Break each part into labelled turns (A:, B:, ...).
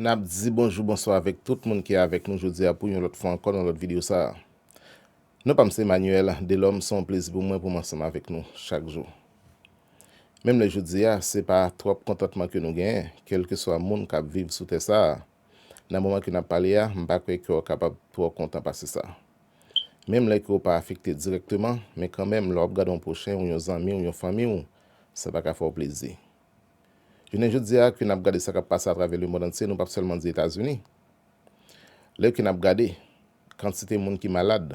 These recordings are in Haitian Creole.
A: Nap di bonjou bonswa avèk tout moun ki avèk nou jodia pou yon lòt fwa ankò nan lòt video sa a. Non pam se Emmanuel Delhomme se yon plezi pou mwen poum ansanm avèk nou chak jou. Menm lè jodia se pa twòp kontantman ke nou genyen kelkeswa moun kap viv sou tè sa a, nan moman ke nap pale a mpa kwè ke'w kapab twò kontan pase sa. Menm lè ke'w pa afekte dirèkteman men kanmenm lè wap gade yon pwochen ou yon zanmi'w yon fanmi'w Sa pa ka fè w plezi. Jounen jodi a, ke n ap gade sa k ap pase atravè lemond antye, nou pap sèlman di Etazini. Lè ke n ap gade kantite moun ki malad,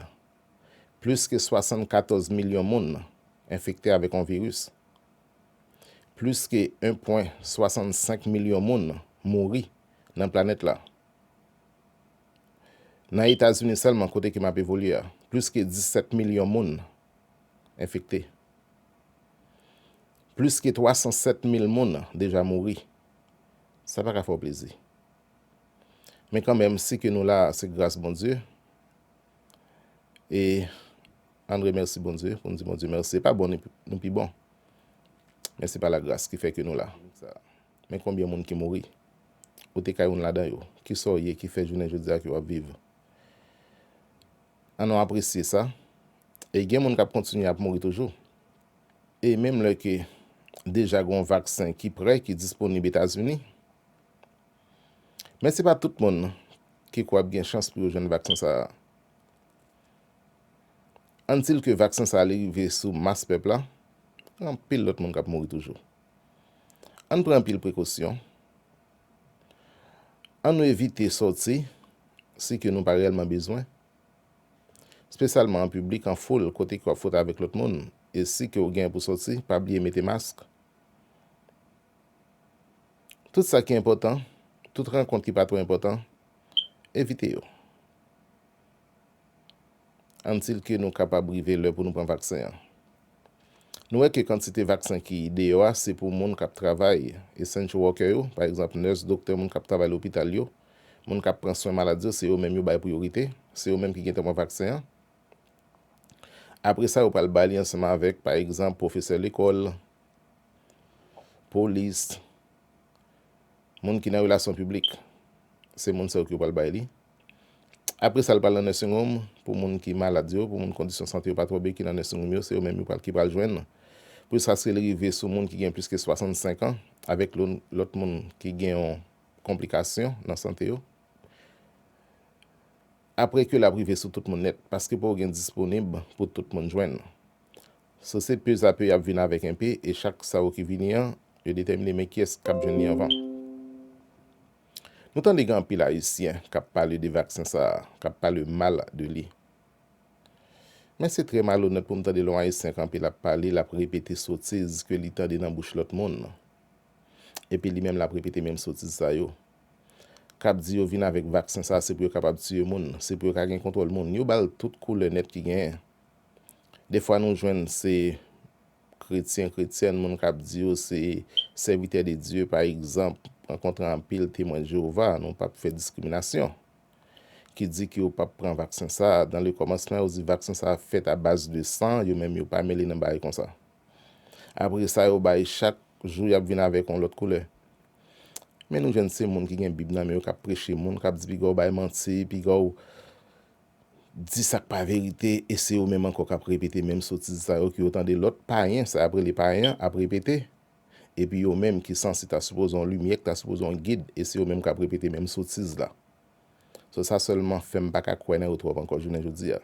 A: plis ke 74 milyon moun enfekte avèk yon viris, plis ke 1 pwen 65 milyon moun mouri nan planèt la. Nan Etazini sèlman, kote ke m ap evolye a, plis ke 17 milyon moun enfekte. Plis ke 307 mil moun deja mouri. Sa pa ka fè w plezi. Men kan menm si ke nou la se gras Bondye. E an remèsi Bondye pou n di Bondye mèsi. Se pa bon nou pi bon. Men se pa la gras ki fè ke nou la. Men konbyen moun ki mouri. Ou te ka youn ladan yo. Kisa w ye ki fè jounen jodi a ke w ap viv? Annou apresye sa. E gen moun k ap kontinye ap mouri toujou. E menm lè ke deja gen yon vaksen ki prè, ki disponib Etazini. Men se pa tout moun ki kwè ap gen chans pou yo jwenn vaksen sa a. Ann di l ke vaksen sa a li rive sou mas pèp la, gen anpil lòt moun k ap mouri toujou. Ann pran anpil prekosyon. An nou evite sòti si ke nou pa reyèlman bezwen, spesyalman an piblik, an foul, kote ke w ap fwote avèk lòt moun. E si ke ou genyen pou sòti, pa bliye mete mask. Tout sa ki enpòtan, tout rankont ki pa twò enpòtan, evite yo. Until ke nou kapab rive lè pou nou pran vaksen an. Nou wè ke kantite vaksen ki deyò a se pou moun kap travay, essential worker yo, pa egzanp nurse, doktè, moun kap travay lopital yo, moun kap pran swen malad yo se yo menm yo bay priyorite, se yo menm ki gentan pran vaksen an. Apre sa yo pral ba li ansanm avèk pa egzanp pwofesè lekòl, polis, moun ki nan relasyon piblik, se moun sa yo ki yo pral bay li. Apre sa, li pral nan nursing home pou moun ki malad yo, pou moun kondisyon sante yo pa twò byen ki nan nursing home yo, se yo menm ki pral jwenn l. Plis sa si li rive sou moun ki gen plis ke 65 an, avèk lòt moun ki gen yon konplikasyon nan sante yo. Apre ke l ap rive sou tout moun nèt, paske poko gen disponib pou tout moun jwenn. So se pezape y ap vin avèk enpe, e chak sa yo ki vini an, yo detèmine men kiyès k ap jwenn li anvan. Nou tande gen anpil ayisyen kap pale de vaksen sa a, kap pale mal de li. Men se trè malonèt pou m tande lè yon ayisyen kanpe lap pale, lap repete sotiz ke li tande nan bouch lòt moun. Epi li menm lap repete menm sotiz sa yo. Kap di yo vin avèk vaksen sa a se pou yo kapab tiye moun, se pou yo ka gen kontwòl moun. Yo bal tout koulè nèt ki genyen. Dèfwa nou jwenn se kretyen, kretyèn, moun k ap di yo se sèvitè de Dye, pa egzanp, rankontre anpil Temwen Jewova, nou pap fè diskriminasyon, ki di ke yo pap pran vaksen sa a. Dan lekòmansman, yo di vaksen sa a fèt abaz de san, yo menm yo pa mele nan bagay konsa. Apre sa, yo bay chak jou y ap vin avèk yon lòt koulè. Men nou jwenn se moun ki gen Bib nan men yo k ap preche moun, k ap di piga w bay manti, piga w. di sak pa verite e se yo menm ankò kap repete menm sotiz sa yo ke yo tande lòt payen sa yap rele payen an ap repete epi yo menm ki sansi ta sipoze yon limyè ki ta sipoze yon gid e se yo menm kap repete menm sotiz la so sa sèlman fèm paka kwè nan yo twòp ankò jounen jodi a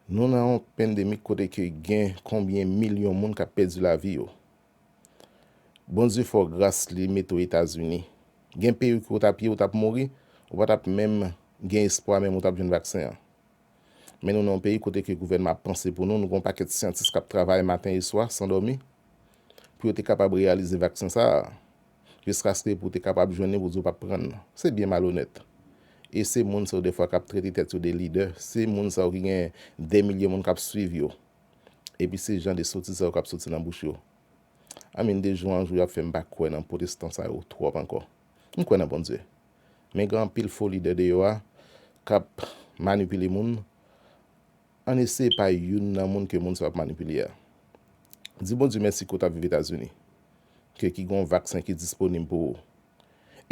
A: nou nan yon pandemic kote ke gen konbyen milyon moun kap pèdi lavi yo. Bondye fò gras li mete w etazini. Gen peyi ke w tap ye ou tap mouri ou pa tap menm gen espwa menm ou tap jwenn vaksen an. Men nou nan yon peyi kote ke gouvènman ap panse pou nou, nou gen yon pakèt syantis kap travay maten e swa san dòmi pou yo te kapab reyalize vaksen sa a jiskaske pou te kapab jwenn li pou di w pap pran l. Se byen malonèt. E se moun sa yo dèfwa kap trete tèt yo de lidè, se moun sa yo ki gen dè milye moun kap swiv yo. Epi se jan de sotiz sa yo kap soti nan bouch yo. I mean de jou an jou yap fèm pa kwè nan protestan sa yo twòp ankò. M kwè nan Bondye. Men gen anpil fo lidè deyò a kap manipile moun. Ann eseye pa youn nan moun ke moun sa yo ap manipile a. Di Bondye mèsi ke w ta viv Etazini. Ke ki gen yon vaksen ki disponib pou ou.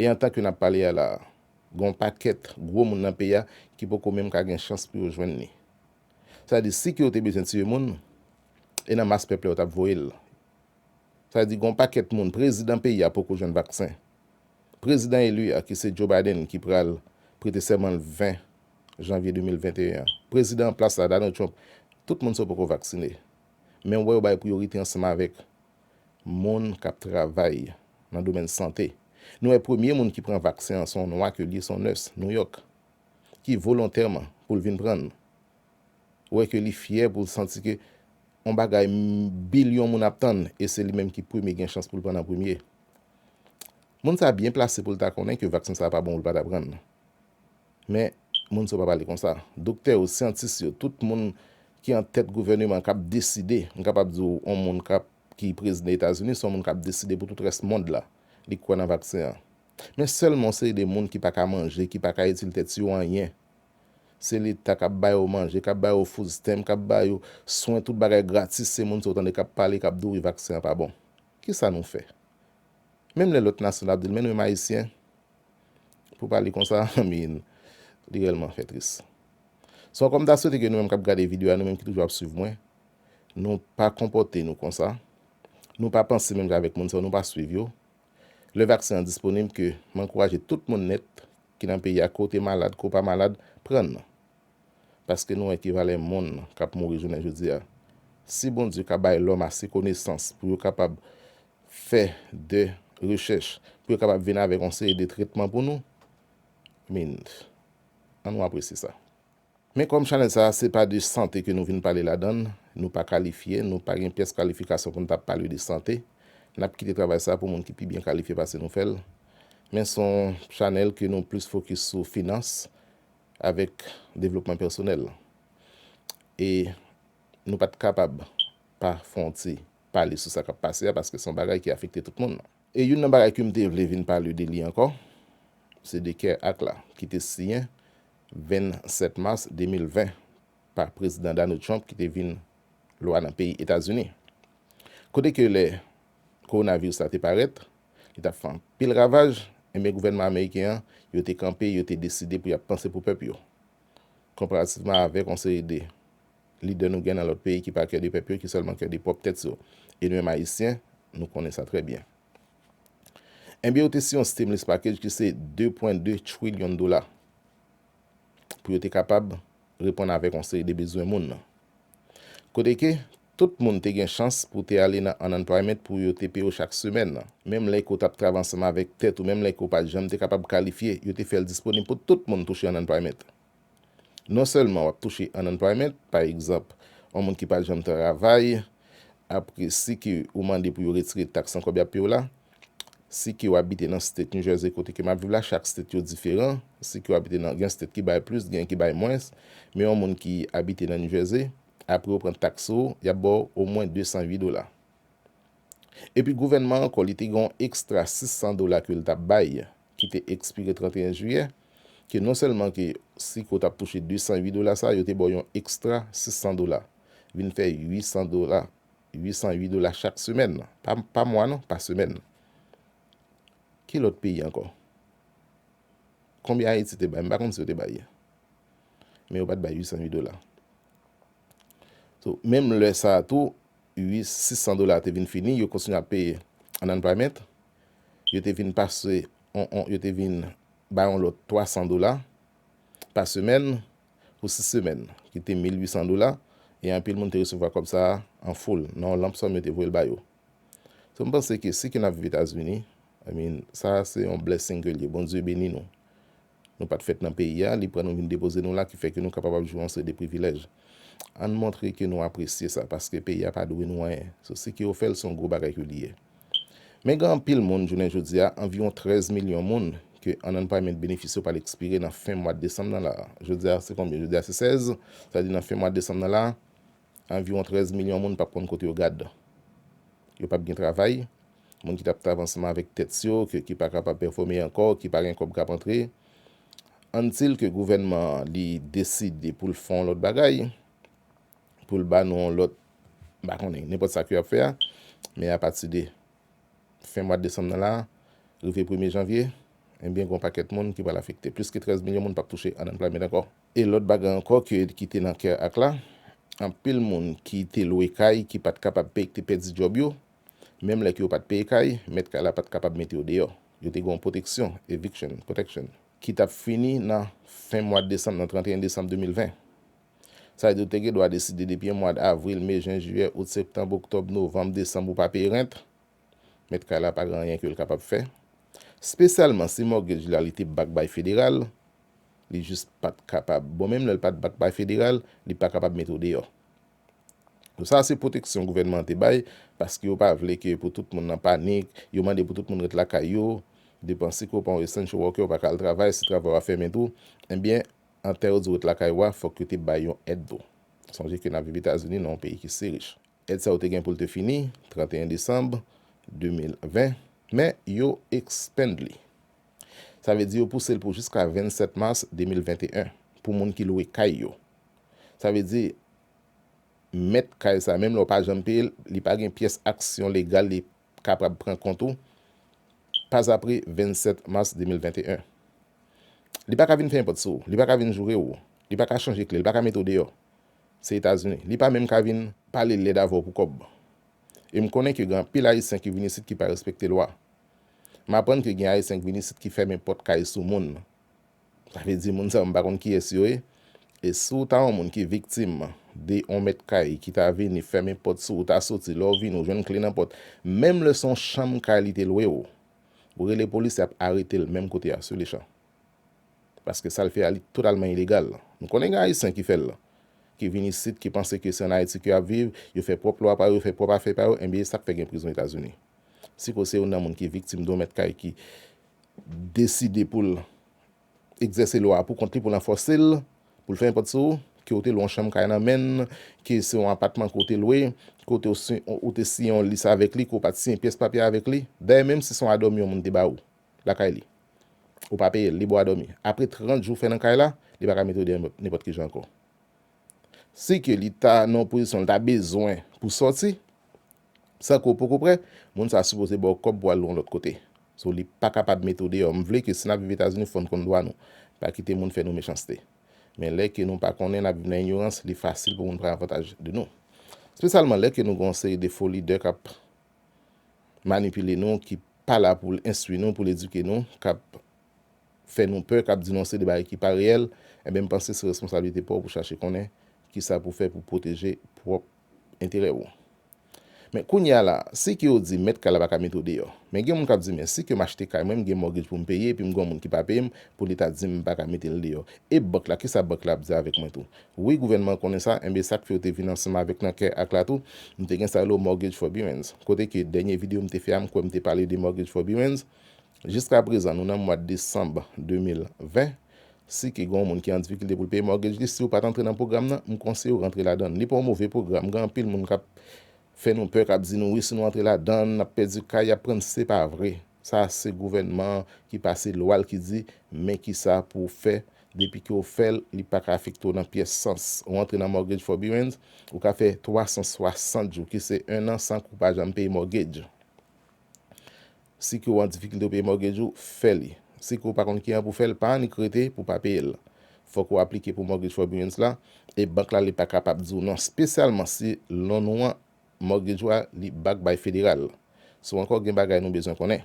A: E antan ke nap pale a la a, gen yon pakèt gwo moun nan peyi a ki poko menm ka gen chans pou yo jwenn li. Sa vle di si ke yo te bezwen tiye moun, e nan mas pèp la yo tap voye l. Sa vle di gen yon pakèt moun, prezidan peyi a poko jwenn vaksen. Prezidan eli a ki se Joe Biden ki pral prete sèman l 20 janvye 2021 an. Prezidan an plas la Donald Trump, tout moun sa yo poko vaksine. Men ou wè yo bay priyorite ansanm avèk moun kap travay nan domèn sante. Nou wè premye moun ki pran vaksen an se yon nwa ke li ye, se yon nurse, New York. ki volontèman pou l vin pran n. Wè ke li fyè pou l santi ke yon bagay bilyon moun ap tann e se li menm ki premye gen chans pou l pran l an premye. Moun sa byen plase pou l ta konnen ke vaksen sa pa bon pou l pa ta pran l. Men, moun sa yo pa pale konsa. Doktè yo, syantis yo, tout moun ki an tèt gouvèneman k ap deside, m kapab di w yon moun k ap ki prezidan Etazini se yon moun k ap deside pou tout rès mond la, li kwè nan vaksen an. Men sèlman yon seri de moun ki pa ka manje, ki pa ka itil tèt yo anyen. Se leta k ap ba yo manje, k ap ba yo food stamp, k ap ba yo swen, tout bagay gratis, se moun sa w tande k ap pale, k ap di w wi vaksen an pa bon. Ki sa nou fè? Menm lè lòt nasyon ap di l men nou menm Ayisyen, pou pale konsa, anmyy, li rèlman fè tris. Se pòkò m ta swete ke nou menm k ap gade videyo a, nou menm ki toujou ap swiv mwen, nou pa konpòte nou konsa, nou pa panse menm jan avèk moun sa yo, nou pa swiv yo, lè vaksen an disponib ke m ankouraje tout moun nèt ki nan peyi a ke w te malad ke w pa malad pran nan. Paske nou wè ki valè moun k ap mouri jounen jodi a. Si Bondye ka bay lòm ase konesans pou yo kapab fè de rechèch pou yo kapab vin avèk yon seri de tretman pou nou, min, an nou apresye sa. Men kòm chanèl sa a se pa de sante ke nou vin pale ladan l, nou pa kalifye, nou pa gen pyès kalifikasyon pou n ta pale de sante, n ap kite travay sa a pou moun ki pi byen kalifye pase nou fè l. Men s on chanèl ke nou plis fokis sou finans avèk devlopman pèsonèl. E nou pa t kapab pa fon ti pale sou sa k ap pase a paske s on bagay ki afekte tout moun. E youn nan bagay ke m te vle vin pale de li ankò, se de Care Act la, ki te siyen 27 mas 2020 pa Prezidan Donald Trump ki te vin lwa nan peyi Etazini. Kote ke lè Kowonaviris la te parèt, li t ap fè anpil ravaj, enben gouvènman ameriken an, yo te kanpe, yo te deside pou y ap panse pou pèp yo. Konparativman avèk yon seri de lidè nou gen nan lòt peyi ki pa kè de pèp yo ki sèlman kè de pwòp tèt yo e nou menm ayisyen nou konnen sa trè byen. Enbyen yo te si yon stimulus package ki se 2 pwen 2 trilyon dola pou yo te kapab reponn avèk yon seri de bezwen moun nan. Kote ke tout moun te gen chans pou te ale nan unemployment pou yo te peye w chak semèn nan. Menm lè ke w t ap travay ansanm avèk tèt ou menm lè ke w pa janm te kapab kalifye yo te fè l disponib pou tout moun touche unemployment. Non sèlman w ap touche an unemployment, pa egzanp, yon moun ki pa t janm travay, apre si ke ou mande pou yo retire taks nan kòb y ap peye w la, si ke w abite nan state New Jersey kote ke m ap viv la, chak state yo diferan, si ke w abite nan, gen state ki bay plis, gen ki bay mwens, men yon moun ki abite nan New Jersey, apre yo pran taks sou ou, y ap ba w omwen 208 dola. Epi gouvènman an ankò li te gen yon ekstra 600 dola ke l t ap bay ki te ekspire 31 jiyè, ke non sèlman ke si ke w t ap touche 208 dola sa, yo te ba w yon ekstra 600 dola, vin fè 800 dola, 808 dola chak semèn, pa mwa non, pa semèn. Ki lòt peyi ankò? Konbyen Ayiti te bay? M pa konn si yo te bay. Men yo pa t bay 808 dola. So, menm lè sa a tou, 600 dola te vin fini, yo kontinye ap peye an unemployment. yo te vin pase on on yo te vin bay on lòt 300 dola pa semèn pou 6 semèn ki te 1800 dola e anpil moun te resevwa kòb sa a an foul nan on lanp sòm yo te voye l ba yo. So m panse ke si ke n ap viv Etazini, I mean, sa a se on blessing ke l ye. Bondye beni nou. Nou pa t fèt nan peyi a, li pran nou vin depoze nou la ki fè ke nou kapab ap jwi yon seri de privilèj. Ann montre ke nou apresye sa, paske peyi a pa dwe nou anyen. Sou si ke yo fè l, se yon gwo bagay ke li ye. Men gen anpil moun, jounen jodi a, anviwon 13 milyon moun, ke anannpayment benefis yo pral ekspire nan fen mwad desanm nan la a. Jodi a se konbyen? Jodi a se 16, sa vle di nan fen mwad desanm nan la a, anviwon 13 milyon moun pap konn kote yo gad. Yo pap gen travay, moun ki tap trav ansanm avèk tèt yo ke ki pa kapab pèfome ankò, ki pa gen kòb kap antre. Antil ke gouvènman an li deside pou l fè yon lòt bagay, pou l ba nou yon lòt, m pa konnen, nenpòt sa ke yo ap fè a, men apati de fen mwad desanm nan la, rive premye janvye, enbyen gon pakèt moun ki pral afekte. Plis ke 13 milyon moun pap touche ann anplwaymant ankò. E lòt bagay ankò ke ki te nan kè ak la, anpil moun ki te lwe kay ki pat kapab peye ki te pèdi djòb yo, menm lè ke yo pat peye kay, mèt kay la pat kapab mete yo deyò. Yo te gen yon pwoteksyon, eviction protection, ki tap fini nan fen mwad desanm, nan 31 desanm 2020. Sa vle di ou te gen dwa deside depi mwad avril, me, jen, jiyè, out, septanb, oktòb, novanm, desanm ou pa peye rent, mèt kay la pa gen anyen ke l kapab fè. Spesyalman si mortgage la li te back by federal, li jis pat kapab bon menm lè l pat bat bay federal li pa kapab mete w deyò so sa se pwoteksyon gouvènman an te bay paske yo pa vle ke pou tout moun nan panik yo mande pou tout moun ret lakay yo depanse ke w pa yon essential worker ou pa ka al travay si travay w a fèmen tou ebyen antan yo di w ret lakay ou a fòk yo te bay yon èd tou sonje ke n ap viv etazini nan yon peyi ki si rich èd sa yo te gen pou l te fini 31 desanm 2020 men yo expand li Sa vle di yo pouse l pou jiska 27 mas 2021 pou moun ki lwe kay yo. Sa vle di mèt kay sa menm lè w pa janm peye l, li pa gen pyès aksyon legal li kapab pran kont ou pazapre 27 mas 2021. Li pa ka vin fèmen pòt sou ou, li pa ka vin joure ou, li pa ka chanje kle, li pa ka mete w deyò. Se Etazini. Li pa menm ka vin pale lèd avè w pou kòb. E m konnen ke gen anpil Ayisyen ki vin isit ki pa respekte lwa. M aprann ke gen Ayisyen k vin isit ki fèmen pòt kay sou moun. Sa vle di moun sa yo m pa konn kiyès yo ye. E si w ta yon moun ki viktim de yon mèt kay ki ta vini fèmen pòt sou ou, ta soti, lè w vini ou jwenn kle nan pòt, menm lè se yon chanm kay li te lwe w, ou rele polis y ap arete l menm kote a sur le champ. Paske sa l fè a li totalman ilegal. M konnen gen Ayisyen ki fè l, ki vin isit, ki panse ke se ann Ayiti ke y ap viv, yo fè pwòp lwa pa yo, yo fè pwòp afè pa yo, enben e sa k fè gen prizon Etazini. Si ke w se youn nan moun ki viktim de yon mèt kay ki deside pou l egzèse lwa a pou kont li, pou l anfòse l, pou l fèmen pòt sou ou, ke ou te lwe yon chanm kay nan men l, ke se yon apatman ke w te lwe, ke ou te siyen yon lis avèk li, ke ou pa t siyen pyès papye avèk li, dayè menm si se yon adòmi yon moun te ba ou lakay li, ou pa peye l, li ba w adòmi, apre 30 jou ou fè nan kay la, li pa ka mete ou deyò nenpòt ki jan ankò. Si ke li ta nan yon pozisyon li ta bezwen pou sòti, San ke w poko prè, moun sa sipoze ba w kòb pou w al yon lòt kote. So li pa kapab mete w deyò. M vle ke si n ap viv Etazini fò n konn dwa nou. Pa kite moun fè nou mechanste. Men lè ke nou pa konnen, n ap viv nan inyorans, li fasil pou moun pran avantaj de nou. Spesyalman lè ke nou gen yon seri de fo lidè k ap manipile nou, ki pa la pou l enstwi nou, pou l edike nou, k ap fè nou pè, k ap di nou yon seri de bagay ki pa reyèl, enben m panse se responsablite pa w pou chache konnen kisa pou w fè pou w pwoteje pwòp enterè ou. Men kounye a la, si ke yo di mèt kay la pa ka mete w deyò. Men gen moun k ap di men si ke m achte kay mwen, m gen mortgage pou m peye epi m gen yon moun ki pa peye m pou leta di m m pa ka mete l deyò. E bank la, kisa bank la ap di avèk mwen tou? Wi gouvènman an konnen sa, enben sa k fè yo te vin ansanm avèk nan kè ak la tou, m te gen sa yo rele w mortgage forbearance. Kote ke dènye videyo m te fè a m kwè m te pale de mortgage forbearance. Jiska prezan nou nan mwad desanm 2020, si ke gen yon moun ki an difikilte pou l peye mortgage li, si ou pat antre nan pwogram nan, m konseye w rantre ladann. Li pa yon move pwogram, gen anpil moun kap fè nou pè, kap di nou wi si nou antre ladann nap pèdi kay, yap pran, se pa vre. Sa se gouvènman an ki pase lwa l ki di men kisa pou w fè, depi ke w fè l, li paka afekte w nan pyès sans. Ou antre nan mortgage forbearance, ou ka fè 360 jou ki se 1 an san ke w pa janm peye mortgage. Si ke w an difikilte pou peye mortgage ou, fè li. Si ke w pa konn ki an pou w fè l, pa annik rete pou w pa peye l. Fòk ou aplike pou Mortgage Forbearance la, e bank la li pa kapab di w non, spesyalman si loan ou an, mortgage ou a, li back by federal. So ankò gen bagay nou bezwen konnen.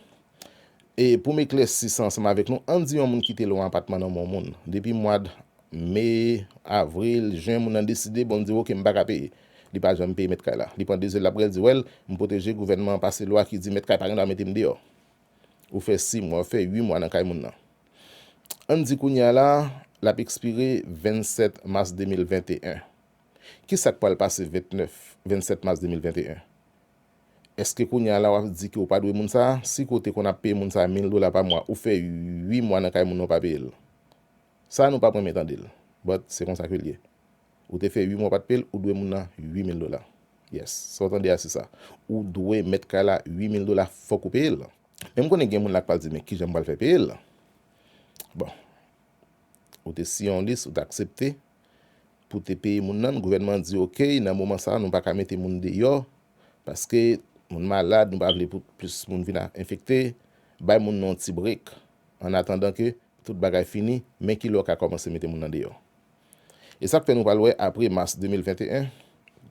A: E pou m eklèsi sa ansanm avèk nou, ann di yon moun kite loan apatman nan men yon moun. Depi mwad Me, Avril, Jen moun nan deside, bon li di w ok m pa ka peye. Li pa janm peye mèt kay la. Li pran de zel lap rèl di wèl m pwoteje gouvènman an pase lwa ki di mèt kay pa gen dwa mete m deyò. Ou fè 6 mwa, ou fè 8 mwa nan kay moun nan. Ann di kounye a la lap ekspire 27 mas 2021. Kisak pral pase 29, 27 mas 2021? Eske kounye a la wap di ke ou pa dwe moun sa? Si ke w te konn ap peye moun sa 1000 dola pa mwa, ou fè 8 mwa nan kay moun nan ou pa peye l. Sa nou pap renmen tande l, but se konsa ke l ye. Ou te fè 8 mwa pat peyel ou dwe moun nan 8000 dola yes sa ou tande a se sa ou dwe mèt kay la 8000 dola fòk ou peyel. Menm konnen gen moun la k pral di men kijan m pral fè peyel bon ou te siyen yon lis ou te aksepte pou te peye moun nan gouvènman an di ok nan moman sa nou paka mete moun deyò paske moun malad nou pa vle pou plis moun vin enfekte bay moun nan yon ti break annatandan ke tout bagay fini men kilè ou ka kòmanse mete moun nan deyò E sa k fè nou pral wè apre mas 2021,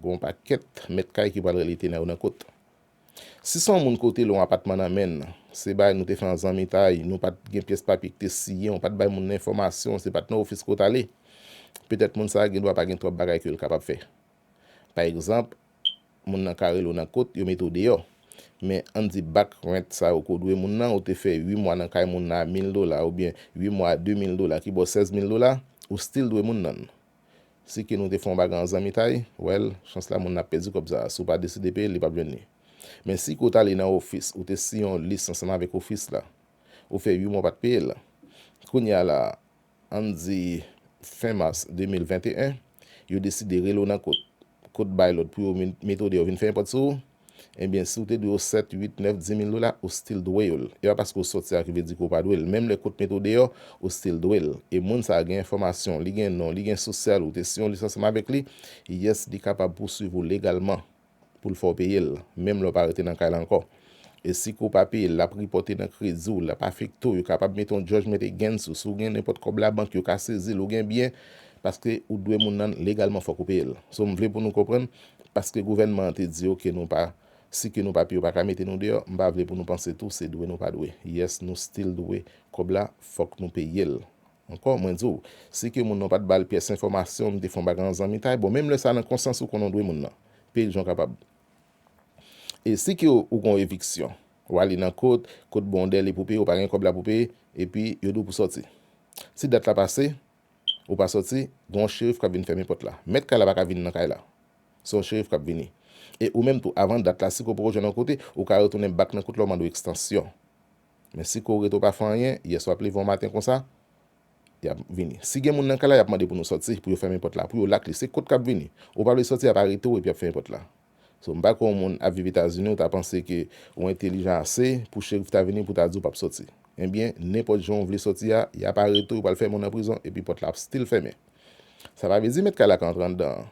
A: gen yon pakèt mèt kay ki pral rele tena yo nan kot. Si s on moun ko te lon apatman nan men l, se bagay nou te fè an zanmitay, nou pa t gen pyès papye ki te siyen, ou pa t bay moun nan enfòmasyon, se pa t nan ofis ke w t ale, petèt moun sa a gen dwa pa gen twòp bagay ke l kapab fè. Pa egzanp, moun nan ka rele w nan kot, yo mete w deyò. Men, ann di back rent sa yo ke w dwe moun nan, ou te fè 8 mwa nan kay moun nan a 1000 dola oubyen 8 mwa a 2000 dola ki ba w 16000 dola, ou still dwe moun nan. Si ke nou te fè yon bagay an zanmitay, well, chans la moun nan ap pèdi kòb sa a. Si w pa deside peye l, li p ap jwenn li. Men si ke w t ale nan ofis, ou te siyen yon lis ansanm avèk ofis la, ou fè 8 mwa w pa t peye l, kounye a la a, An n di, fen mas 2021, yo deside rele w nan kot, kot bay lòd pou yo metode yo vin fè enpòt sou ou, enben si w te dwe yo 7, 8, 9, 10 mil dola, ou stil dwe yo l. E pa paske w sòti a ki vle di ke w pa dwe l. Menm lè kot metode yo, ou stil dwe l. E moun sa a gen enfòmasyon, li gen non, li gen sosyal ou, te siyen yon lisansyeman avèk li, yes, li kapab pouswiv ou legalman. pou l fè w peye l, menm lè w pa rete nan kay la ankò. E si ke w pa peye l, l ap ripòte nan kredi w, l ap afekte w, yo kapab mete yon judgment against ou. Si w gen nenpòt kòb labank, yo ka sezi l. Ou gen byen, paske ou dwe moun nan, legalman fòk ou peye l. So m vle pou nou konprann, paske gouvènman an te di yo ke nou pa, si ke nou pa peye yo pa ka mete nou deyò, m pa vle pou nou panse tou se dwe nou pa dwe. Yes nou still dwe kòb la, fòk nou peye l. Ankò, mwen di w, si ke moun nan pa t ba l pyès enfòmasyon, m te fè yon bagay an zanmitay, bon menm lè sa nan konsyans ou konnen w dwe moun nan. Pil jan w kapab. E si ke ou gen yon eviksyon, w ale nan kot, kot ba w yon dèle pou peye, ou pa gen kòb la pou peye, epi yo di w pou sòti. Si dat la pase, ou pa sòti, gen yon cherif k ap vin fèmen pòt la. Mèt kay la pa ka vin nan kay la. Se yon cherif k ap vini. E ou menm tou, avan dat la, si ke w poko jwenn yon kote, ou ka retounen bak nan kot la ou mande w ekstansyon. Men si kore to pa fè anyen, yè swa plivan maten konsa, yap vini. Si gen moun nan kay la yap mande pou nou sòti, pou yo fèmen pòt la pou yo lakle. Se kot kap vini? Ou pa vle sòti yap arete w epi yap fèmen pòt la. So m pa kwè yon moun ap viv Etazini ou ta panse ke ou entelijan ase pou cherif ta vini pou ta di w pap sòti. Ebyen, nenpòt jan ou vle sòti a, yap arete w, yo pral fèmen w nan prizon epi pòt la ap still fèmen. Sa pa vle di mèt kay la ka antre anndan an.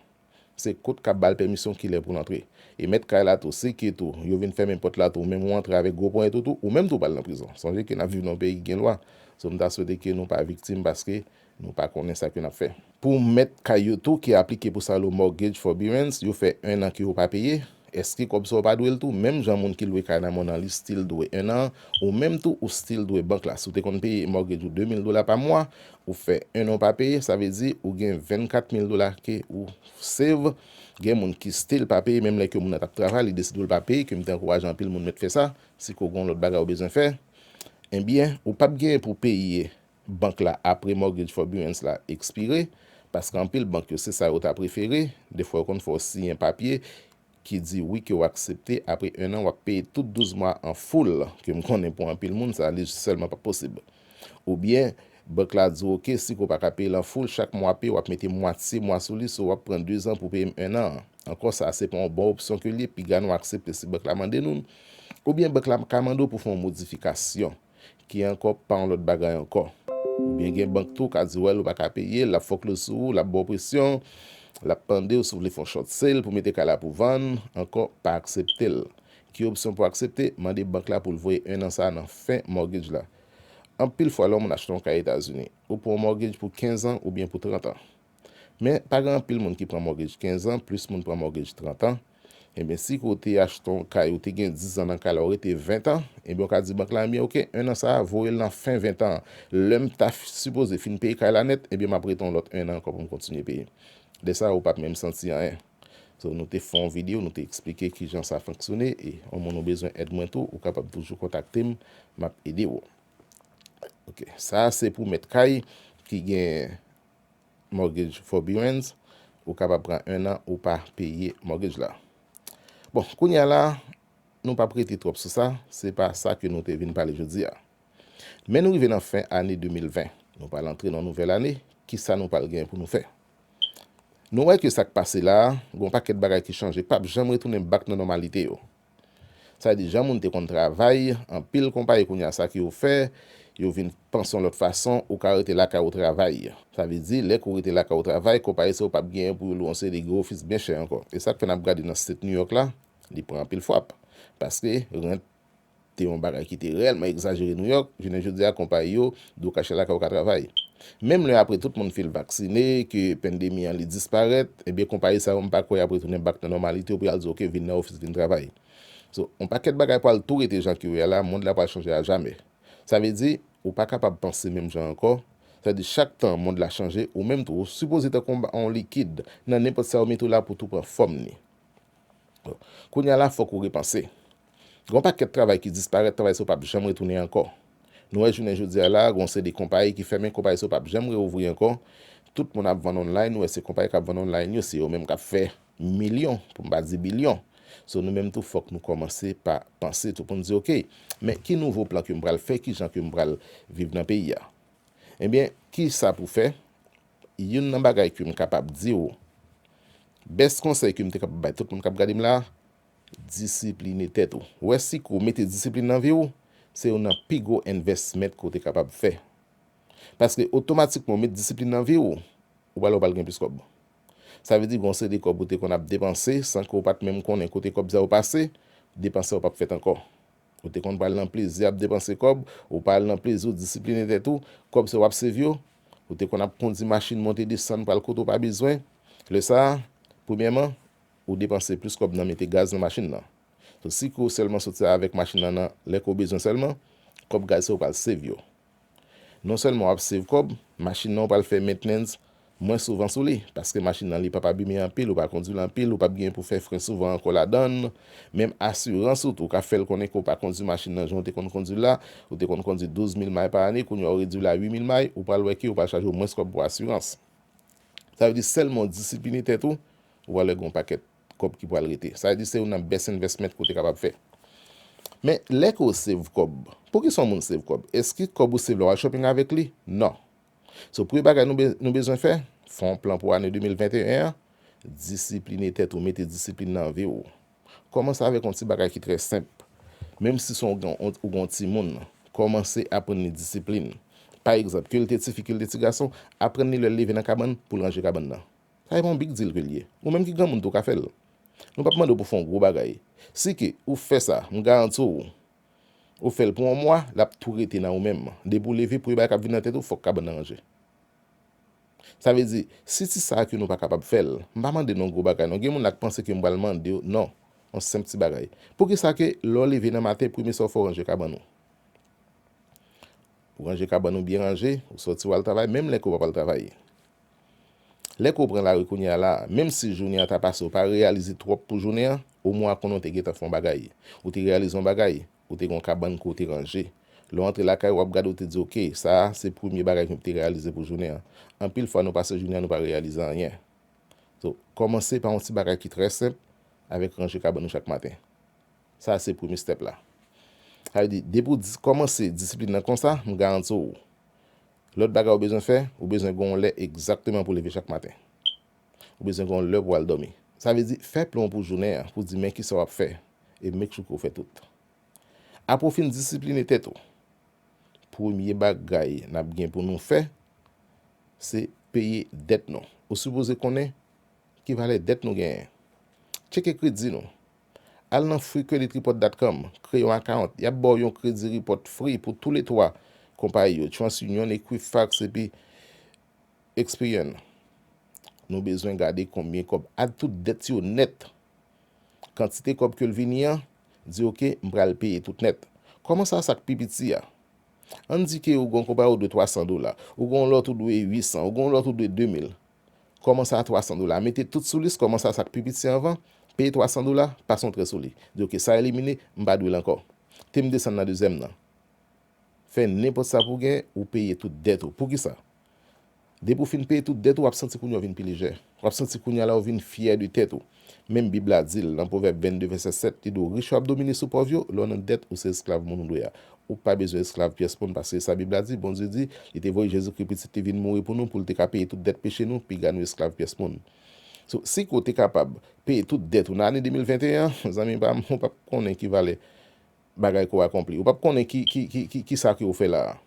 A: Se kot kap bal pèmisyon kilè poul antre. E mèt kay la tou se ke tou yo vin fèmen pòt la tou ou menm ou antre avèk gwo ponyèt ou tou ou menm tou pral nan prizon. Sonje ke nap viv nan yon peyi ki gen lwa. So m ta swete ke nou pa viktim paske nou pa konnen sa ke nap fè. Pou mèt kay yo tou ki aplike pou sa lo mortgage forbearance yo fè 1 an ke yo pa peye. Eske kòb sa ou pa dwel tou menm jan moun ki lwe kay nan monan li stil dwe 1 an ou menm tou ou stil dwe bank la si ou te konn peye mortgage ou 2000 dola pa mwa ou fè 1 an ou pa peye sa vle di ou gen 24 mil dola ke ou save gen moun ki stil pa peye menm lè ke moun nan tap travay li deside ou l pa peye ke m te ankouraje anpil moun mèt fè sa si ke ou gen yon lòt bagay ou bezwen fè enbyen ou pap gen pou peye bank la apre Mortgage Forbearance la ekspire, paske anpil bank yo se sa yo ta prefere, defwa yo konn fè w siyen papye ki di wi ke w aksepte apre 1 an w ap peye tout 12 mwa an full, ke m konnen pou anpil moun sa li sèlman pa posib. Oubyen Bank la di w ok si ke w pa ka peye l an full chak mwa peye w ap mete mwatye mwa sou li so w ap pran 2 zan pou peye m 1 an. Ankò sa se pa yon bon opsyon ke li ye piga nou aksepte si bank la mande nou l. Oubyen bank la ka mande w pou fè yon modifikasyon. Ki ankò pa yon lòt bagay ankò. Oubyen gen bank tou ka di w al ou pa ka peye l, l ap fòklo sou ou, l ap ba w presyon, l ap mande w si w vle fè yon short sale pou mete kay la pou vann, ankò pa aksepte l. Ki opsyon pou aksepte? Mande bank la pou l voye 1 an sa a nan fen mortgage la. Anpil fwa lè yon moun achte yon kay Etazini, ou pran yon mortgage pou 15 an oubyen pou 30 an. Men, pa gen anpil moun ki pran mortgage 15 an, plis moun pran mortgage 30 an. Enben si ke w te achte yon kay ou te gen 10 zan nan kay la ou rete 20 an, enben ou ka di bank la enben ok 1 an sa a voye l nan fen 20 an an. Lè m ta sipoze fin peye kay la nèt enben m ap rete yon lòt 1 an ankò pou m kontinye peye. Lè sa a ou p ap menm santi anyen. So nou te fè yon videyo nou te eksplike kijan sa fonksyone e yon moun ou bezwen èd mwen tou ou kapab toujou kontakte m m ap ede w. Ok sa a se pou mèt kay ki gen. Mortgage Forbearance, ou kapab pran 1 an ou pa peye mortgage la. Bon, kounye a la, nou p ap rete twòp sou sa, se pa sa ke nou te vin pale jodi a. Men nou rive nan fen ane 2020, nou pral antre nan nouvèl ane, ki sa nou pral gen pou nou fè? Nou wè ke sa k pase la a, gen yon pakèt bagay ki chanje, k p ap janm retounen bak nan nòmalite yo. Sa vle di jan moun te konn travay, anpil konpayi kounye a sa ke yo fè, yo vin panse yon lòt fason, ou ka rete lakay ou travay. Sa vle di lè ke ou rete lakay ou travay, konpayi sa yo pap genyen pou yo lwe yon seri de gwo ofis byen chè ankò. E sak fè nap gade nan state New York la, li pran anpil fwap. Paske rent te yon bagay ki te reyèlman egzajere New York, jounen jodi a konpayi yo Do kache lakay ou ka travay. Menm lè apre tout moun fil vaksine, ke pendemi an li disparèt, ebyen konpayi sa yo m pa kwè yap retounen bak nan nòmalite yo pou yal di ok vin nan ofis vin travay. So, on pakèt bagay pwal tou rete jan ke yo ye a la, mond la pwal chanje a jamè. Sa vle di, ou pa kapab panse menm jan ankò, sa di chak tan mond la chanje, ou menm tou ou sipoze tankou on likid, nan nenpòt sa yo mete w la pou tou pran fòm ni. Kounye a la fòk ou repanse. Gen yon pakèt travay ki disparèt, travay sa yo pap janm retounen ankò. Nou wè jounen jodi a la, gen yon seri de konpayi ki fèmen, konpayi sa yo pap janm reouvri ankò. Tout moun ap vann online, ou wè se konpayi k ap vann online yo, se yo menm k ap fè milyon, pou m pa di bilyon. So nou menm tou fòk nou kòmanse pa panse tou pou n di ok, men ki nouvo plan ke m pral fè, ki jan ke m pral viv nan peyi a? Ebyen, ki sa pou fè? Youn nan bagay ke m kapab di ou, best konsèy ke m te kapab bay tout moun k ap gade m la, Disipline tèt ou. Wè si kou mete disiplin nan vi ou, se youn nan pi gwo envèsment ke ou te kapab fè. Paske otomatikman ou met disiplin nan vi ou, ou pral wè ou pral gen plis kòb. Sa vle di gen yon seri de kòb ou te konn ap depanse san ke ou pat menm konnen kote kòb sa yo pase, depanse yo pap fèt ankò. Ou te konn pral nan plezi ap depanse kòb, ou pa al nan plezi ou disipline tèt ou, kòb se wap save yo. Ou te konn ap kondi machin monte desann pral kote ou pa bezwen. Lè sa, premyèman, Ou depanse plis kòb nan mete gaz nan machin nan. So si ke w sèlman soti avèk machin nan nan lè ke w bezwen sèlman, kòb gaz sa ou pral save yo. Non sèlman w ap save kòb, machin nan ou pral fè mentnens mwen souvan sou li, paske machin nan li p ap abime anpil, ou pa kondwi l anpil, ou p ap gen pou fè fren souvan ankò ladann, menm asirans ou tou ka fè l konnen ke w pa kondwi machin nan jan w te konn kondwi l la, ou te konn kondwi 12 mil may pa ane, kounye a ou redwi l a 8 mil may, ou pral wè ke yo pral chaje w mwens kòb pou asirans. Sa vle di sèlman w disipline tèt ou, Vòlè gon pakèt kòb ki pwal rete. Sa di se youn nan best investment ke w te kapab fè. Men lè ke w save kòb, pouki sa w moun save kòb? Eski kòb ou save la w al shopping avèk li? Non. So premye bagay nou bezwen fè, fè yon plan pou ane 2021 an, disipline tèt ou, mete disipline nan vi w. Kòmanse avèk yon ti bagay ki trè senp. Menm si son ou gen yon ti moun, kòmanse aprann li disipline. Pa egzanp, ke l te ti fi, ke l te ti gason, aprann li lè l leve nan kabann, pou l ranje kabann nan. Sa e pa yon big deal ke l ye. Ou menm ki granmoun tou ka fè l. Nou pap mande w pou fè yon gwo bagay. Si ke ou fè sa, m garanti w, ou fè l pou yon mwa, l ap tou rete nan ou menm. Depi w leve, premye bagay k ap vin nan tèt ou, fòk kabann nan ranje. Sa vle di, si ti sa ke nou pa kapab fè l, m pa mande n yon gwo bagay non. Gen moun la k panse ke m pral mande yo, non. Yon senp ti bagay. Poukisa ke lè w leve nan maten, premye sa ou fè ou ranje kabann ou. Ou ranje kabann ou byen ranje, ou sòti w al travay, menm lè ke ou pa pral travay. Lè ke w pran lari kounye a la, menm si jounen an ta pase ou pa reyalize twòp pou jounen an, omwen konnen w te gentan fè yon bagay. Ou te reyalize yon bagay, ou te gen yon kabann ke w te ranje. Lè w antre lakay ou, w ap gade ou te di ok, sa a se premye bagay ke m te reyalize pou jounen an. Anpil fwa nou pase jounen an nou pa reyalize anyen. So, kòmanse pa yon ti bagay ki trè senp avèk ranje kabann ou chak maten. Sa a se premye stèp la. Sa vle di, depi w kòmanse disiplin nan konsa, m garanti w, Lòt bagay ou bezwen fè, ou bezwen gen yon lè egzakteman pou w leve chak maten. Ou bezwen gen yon lè pou w al dòmi. Sa vle di, fè plan w pou jounen an, pou w di men kisa w ap fè e make sure ke w fè tout. Apre w fin disipline tèt ou, premye bagay n ap gen pou nou fè, se peye dèt nou. Ou sipoze konnen ki valè dèt nou genyen. Tcheke kredi nou. Al nan freecreditreport.com, kreye yon account, yap baw yon kredi report free pou tou le 3 konpayi yo, TransUnion, Equifax epi Experian. Nou bezwen gade konbyen kòb add tout dèt yo nèt. Kantite kòb ke l vini an, di ok, m pral peye tout nèt. Kòmanse a sa k pi piti a. Ann di ke ou gen yon konpayi ou dwe 300 dola, ou gen yon lòt ou dwe 800, ou gen yon lòt ou dwe 2000. Kòman sa 300 dola? Mete tout sou lis kòman sa sa k pi piti anvan, peye 300 dola, pase yon trè sou li. Di ok sa elimine, m pa dwe l ankò. Te m desann nan dezyèm nan. Fè nenpòt sa pou w gen, ou peye tout dèt ou. Poukisa? Depi w fin peye tout dèt ou, w ap santi kounye a w vin pi lejè. W ap santi kounye a la ou vin fyè de tèt ou. Menm bib la dil nan pwovèb 22 vèsè 7 li di w rich yo ap domine sou pòv yo, lè w nan dèt ou se esklav moun ou dwe a. Ou pa bezwen esklav pyès moun paske sa bib la di Bondye di li te voye Jezikri pitit li vin mouri pou nou pou l te ka peye tout dèt peche nou piga nou esklav pyès moun. So si ke w te kapab peye tout dèt ou nan ane 2021 an zanmi pa m ou pap konnen ki valè bagay ke w akonpli. Ou pap konnen ki sa ke ou fè la a.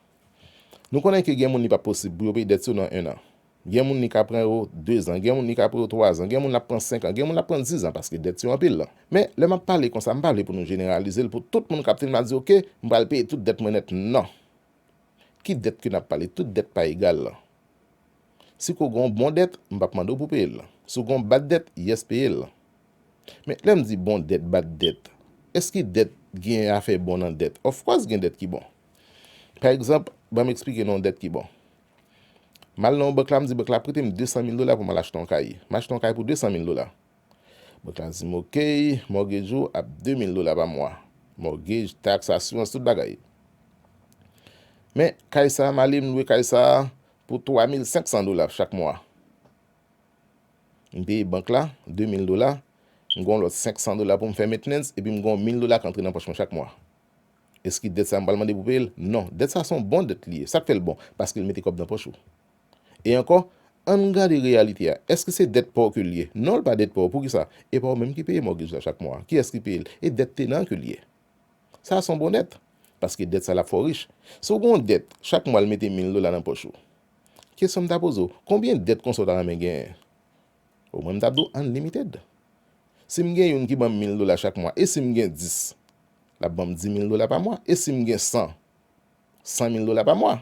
A: Nou konnen ke gen moun li pap posib pou yo peye dèt yo nan 1 an. Gen moun li ka pran yo 2 zan, gen moun li ka pran yo 3 zan, gen moun l ap pran 5 an, gen moun l ap pran 10 zan paske dèt yo anpil. Men, lè m ap pale konsa, m pa vle pou nou jeneralize l pou tout moun kap tande m ap di ok, m pral peye tout dèt mwen nèt. Non! Ki dèt ke n ap pale? Tout dèt pa egal. Si ko gon bon dèt, m pap mande w pou peye l. Si w gon bad dèt, yes peye l. Men, lè m di bon dèt, bad dèt, eski dèt gen afè bon nan dèt? Of course gen dèt ki bon. Pa egzanp, ban m eksplike nou yon dèt ki bon. M al nan yon bank la, m di bank la prete m 200 mil dola pou m al achte yon kay. M achte yon kay pou 200 mil dola. Bank la di m ok, mortgage ou ap 2 mil dola pa mwa. Mortgage, tax, assurance, tout bagay. Men, kay sa a, m ale m lwe kay sa a, Pou 3500 dola chak mwa m peye bank la 2000 dola, m gen yon lòt 500 dola pou m fè mentnens epi m gen yon 1000 dola k antre nan pòch mwen chak mwa. Eski dèt sa m pral mande pou peye l? Non. Dèt sa se yon bon dèt li ye. Sa k fè l bon? Paske l mete kòb nan pòch ou. E ankò, ann gade reyalite a. Èske se dèt pa w ke l ye? Non l pa dèt pa w. Poukisa? E pa w menm ki peye mògej la chak mwa. Kiyès ki peye l? E dèt tenan ke l ye. Sa a son bon dèt, paske dèt sa lap fè w rich. Si w gen yon dèt, chak mwa l mete 1000 dola nan pòch ou. Kesyon m ta poze w, konbyen dèt konsa w ta renmen genyen? O mwen m tap di w unlimited. Si m gen youn ki banm 1000 dola chak mwa, e si m gen 10? Lap banm 10000 dola pa mwa. E si m gen 100? 100000 dola pa mwa.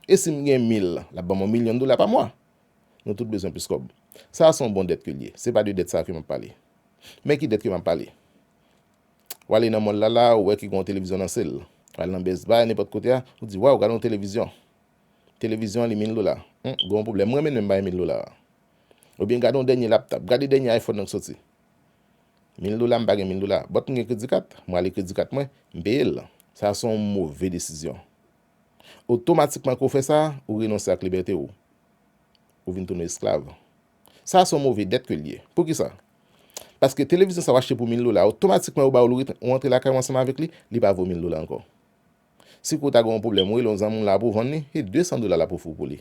A: E si m gen 1000? Lap banm yon milyon dola pa mwa. Nou tout bezwen plis kòb. Sa a son bon dèt ke l ye. Se pa de dèt sa a ke map pale. Men ki dèt ke map pale. Ou ale nan mòl la la, ou wè ki gen yon televizyon nan sèl. Ou al nan Best Buy, nenpòt kote a, ou di, Waw, gade yon televizyon. Televizyon an li mil dola. Hum, gen yon pwoblèm. M renmen menm bay mil dola a. Oubyen gade yon dènye laptòp. Gade dènye iPhone nan ki soti. Mil dola, m pa gen mil dola. But m gen kredi kat. M rale kredi kat mwen, m peye l. Sa se yon move desizyon. Otomatikman ke w fè sa, ou renonse ak libète ou. Ou vin tounen esklav. Sa a se yon move dèt ke l ye. Poukisa? Paske televizyon sa w achte pou mil dola, otomatikman yo ba w l, ou rantre lakay ou ansanm avèk li, li pa vo mil dola ankò. Si ke w ta gen yon pwoblèm, ou rele yon zanmi w la pou w vann li, se 200 dola l ap ofri w pou li.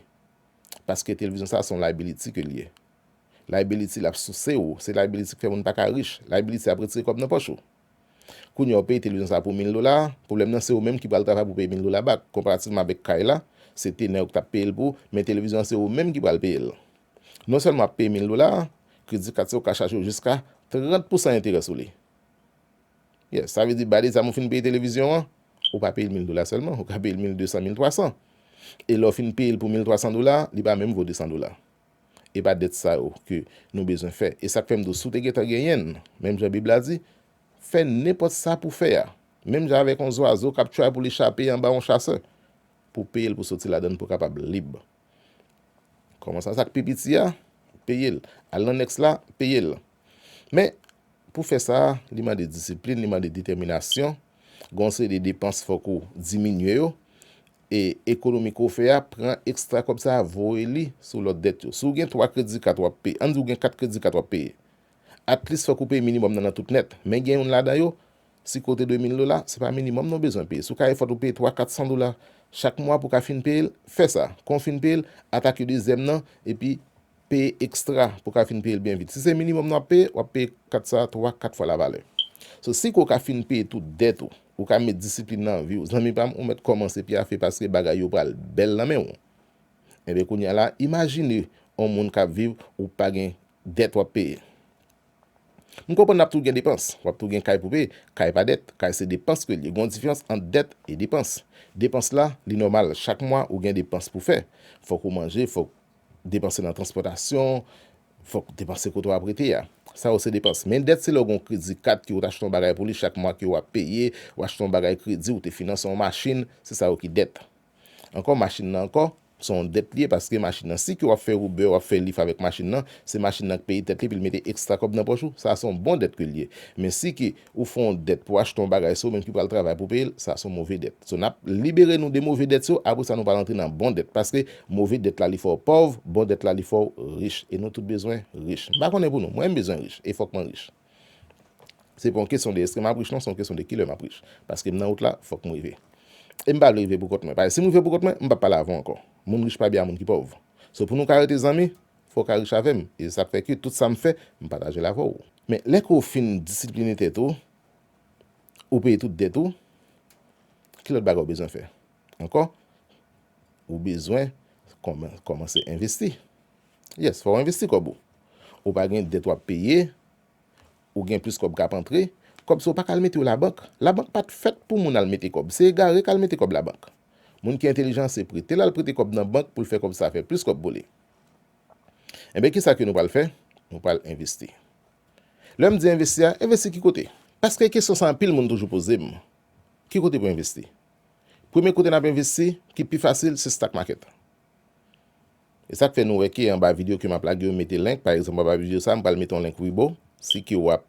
A: Paske televizyon sa a se yon liability ke l ye. Liability l ap souse ou, se liability ki fè moun pa ka rich, liability ap retire kòb nan pòch ou. Kounye a ou peye televizyon sa pou mil dola, pwoblèm nan se ou menm ki pral travay pou peye mil dola back, konparativman avèk kay la, se tenè ou ki t ap peye l pou, men televizyon an se ou menm ki pral peye l. Non sèlman w ap peye mil dola, kredi kat sa yo ka chaje w jiska 30 pousan enterè sou li. Yes, sa vle di bay de zam ou fin peye televizyon an, ou pa peye l mil dola sèlman, ou ka peye l mil desan, mil twasan. E lè w fin peye l pou mil twasan dola, li pa menm vo desan dola. E pa dèt sa yo ke nou bezwen fè. E sa k fè m di w si w te gentan genyen l, menm jan Bib la di, fè nenpòt sa pou w fè a, menm jan avèk yon zwazo k ap tray pou li chape anba yon chasè, pou w peye l pou w soti ladan l pou w kapab lib. Kòmanse sa k pi piti a, peye l. Al nan nèks la, peye l. Men, pou fè sa, li mande disiplin, li mande detèminasyon, gen yon seri de depans fòk ou diminye yo, e ekonomi ke w fè a pran ekstra kòb sa a voye li sou lòt dèt yo. Si w gen 3 kredi kat w ap peye, ann di w gen 4 kredi kat w ap peye, atlis fòk ou peye minimòm nan nan tout nèt, men gen youn ladan yo, si ke w te dwe 1000 dola, se pa minimòm non w bezwen peye. Si w ka efòt ou peye 3, 400 dola chak mwa pou w ka fin peye l, fè sa. Kon w fin peye l, atake dezyèm nan, epi Peye ekstra pou w ka fin peye l byen vit. Si se minimòm nan w ap peye, w ap peye kat sa a twa, kat fwa lavalè. So, si ke w ka fin peye tout dèt ou, ou ka met disiplin nan vi w. Zanmi pa m, ou mèt kòmanse pyafe paske bagay yo pral bèl nan men w. Enben kounye a la, imajine yon moun k ap viv, ou pa gen dèt w ap peye. M konprann l ap tou gen depans. W ap tou gen kay pou peye. Kay pa dèt. Kay se depans ke l ye. Gen yon diferans ant dèt e depans. Depans la, li nòmal. Chak mwa, ou gen depans pou w fè. Fòk ou manje, fòk. Depanse nan transpòtasyon, fòk depanse kote w ap rete a. Sa yo se depans. Men dèt se lè w gen yon kredi kat ke ou te achte yon bagay pou li, chak mwa ke w ap peye, ou achte yon bagay kredi, ou te finanse yon machin, se sa yo ki dèt. Ankò machin nan ankò, se yon dèt li ye paske machin nan si ke w ap fè Uber, w ap fè Lyft avèk machin nan, se machin nan k peye tèt li epi l mete ekstra kòb nan pòch ou, sa a se yon bon dèt ke l ye. Men si ke Ou fè yon dèt pou achte yon bagay se ou menm ki pral travay pou peye l, sa son move dèt. So n ap libere nou de move dèt yo, apre sa nou pral antre nan bon dèt paske move dèt la li fè w pòv, bon dèt la li fè w rich e nou tout bezwen rich. M pa konnen pou nou, mwen m bezwen rich e fòk mwen rich. Se pa yon kesyon de eske m ap rich non, se yon kesyon de kilè m ap rich paske m nan wout la, fòk m rive. E m pa vle rive pou kont mwen, paske si m rive pou kont mwen, m p ap pale avè w ankò. Moun rich pa byen a moun ki pòv. So pou nou ka rete zanmi, Fò w ka rich avè m, e se sa k fè ke tout sa m fè, m pataje l avè w. Men, lè ke w fin disipline tèt ou, ou peye tout dèt ou, ki lòt bagay ou bezwen fè ankò? Ou bezwen kòmanse envesti. Yes, fò w envesti kòb ou. Ou pa gen dèt w ap peye, ou gen plis kòb k ap antre. Kòb sa ou pa ka al mete yo labank. Labank pa t fèt pou moun al mete kòb. Se egare k al mete kòb labank. Moun ki entelijan se prete l al prete kòb nan bank pou l fè kòb sa fè plis kòb pou li. Enben kisa ke nou pral fè? Nou pral envesti. Lè m di envesti a, envesti ki kote? Paske kesyon sa anpil moun toujou poze m. Ki kote pou envesti? Premye kote n ap envesti ki pi fasil se stock market. E sa k fè nou wè ke anba video ke m ap lage yo m mete link, pa egzanp anba video sa m pral mete yon link Webull, si ke w ap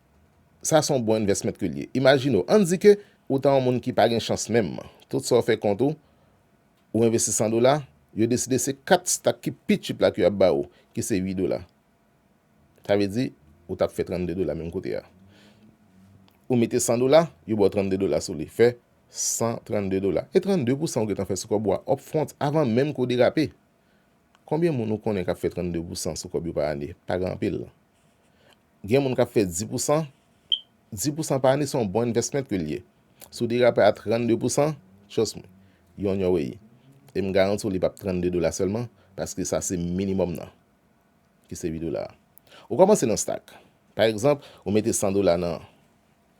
A: Sa son bon investment ke l ye. Imajine w, ann di ke ou ta yon moun ki pa gen chans menm. Tout sa w fè kont ou, ou envesti 100 dola, yo deside se 4 stak ki pi cheap la ke y ap ba ou, ki se 8 dola. Sa vle di, ou t ap fè 32 dola menm kote a. Ou mete 100 dola, yo ba w 32 dola sou li. Fè 132 dola. E 32 pousan ou gentan fè sou kòb ou a up front, avan menm ke w derape. Konbyen moun ou konnen k ap fè 32 pousan sou kòb yo pa ane? Pa gen anpil. Gen moun k ap fè 10 pousan, 10 pousan pa ane se yon bon investment ke li ye. Si w derape a 32 pousan, trust me, you on your way. E m garanti w li p ap 32 dola sèlman, paske sa se minimòm nan, ki se 8 dola a. Ou kòmanse nan stack. Pa egzanp, ou mete 100 dola nan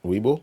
A: Webull,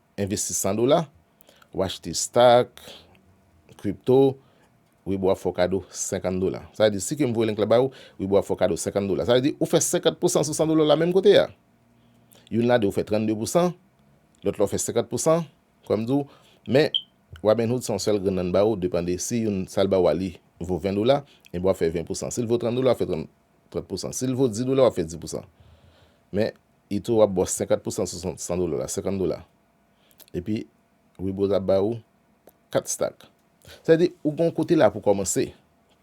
A: Envesti 100 dola, w achte stock, crypto, Weibo ap fè w kado 50 dola. Sa vle di si ke m voye link la ba ou, Weibo ap fè w kado 50 dola. Sa vle di ou fè 50 pousan sou 100 dola w la menm kote a. Youn la de ou fè 32 pousan, lòt la ou fè 50 pousan, kòm m di w. Men, Robinhood se yon sèl grenn nan l ba ou, depande si youn sa l ba ou a li vo 20 dola, enben w ap fè 20 pousan. Si l vo 30 dola, w ap fè 30 pousan. Si l vo 10 dola, w ap fè 10 pousan. Men, Itoro ap baw 50 pousan sou 100 dola la 50 dola epi Wibroz ap ba ou 4 stak sa vle di ou gen yon kote la pou kòmanse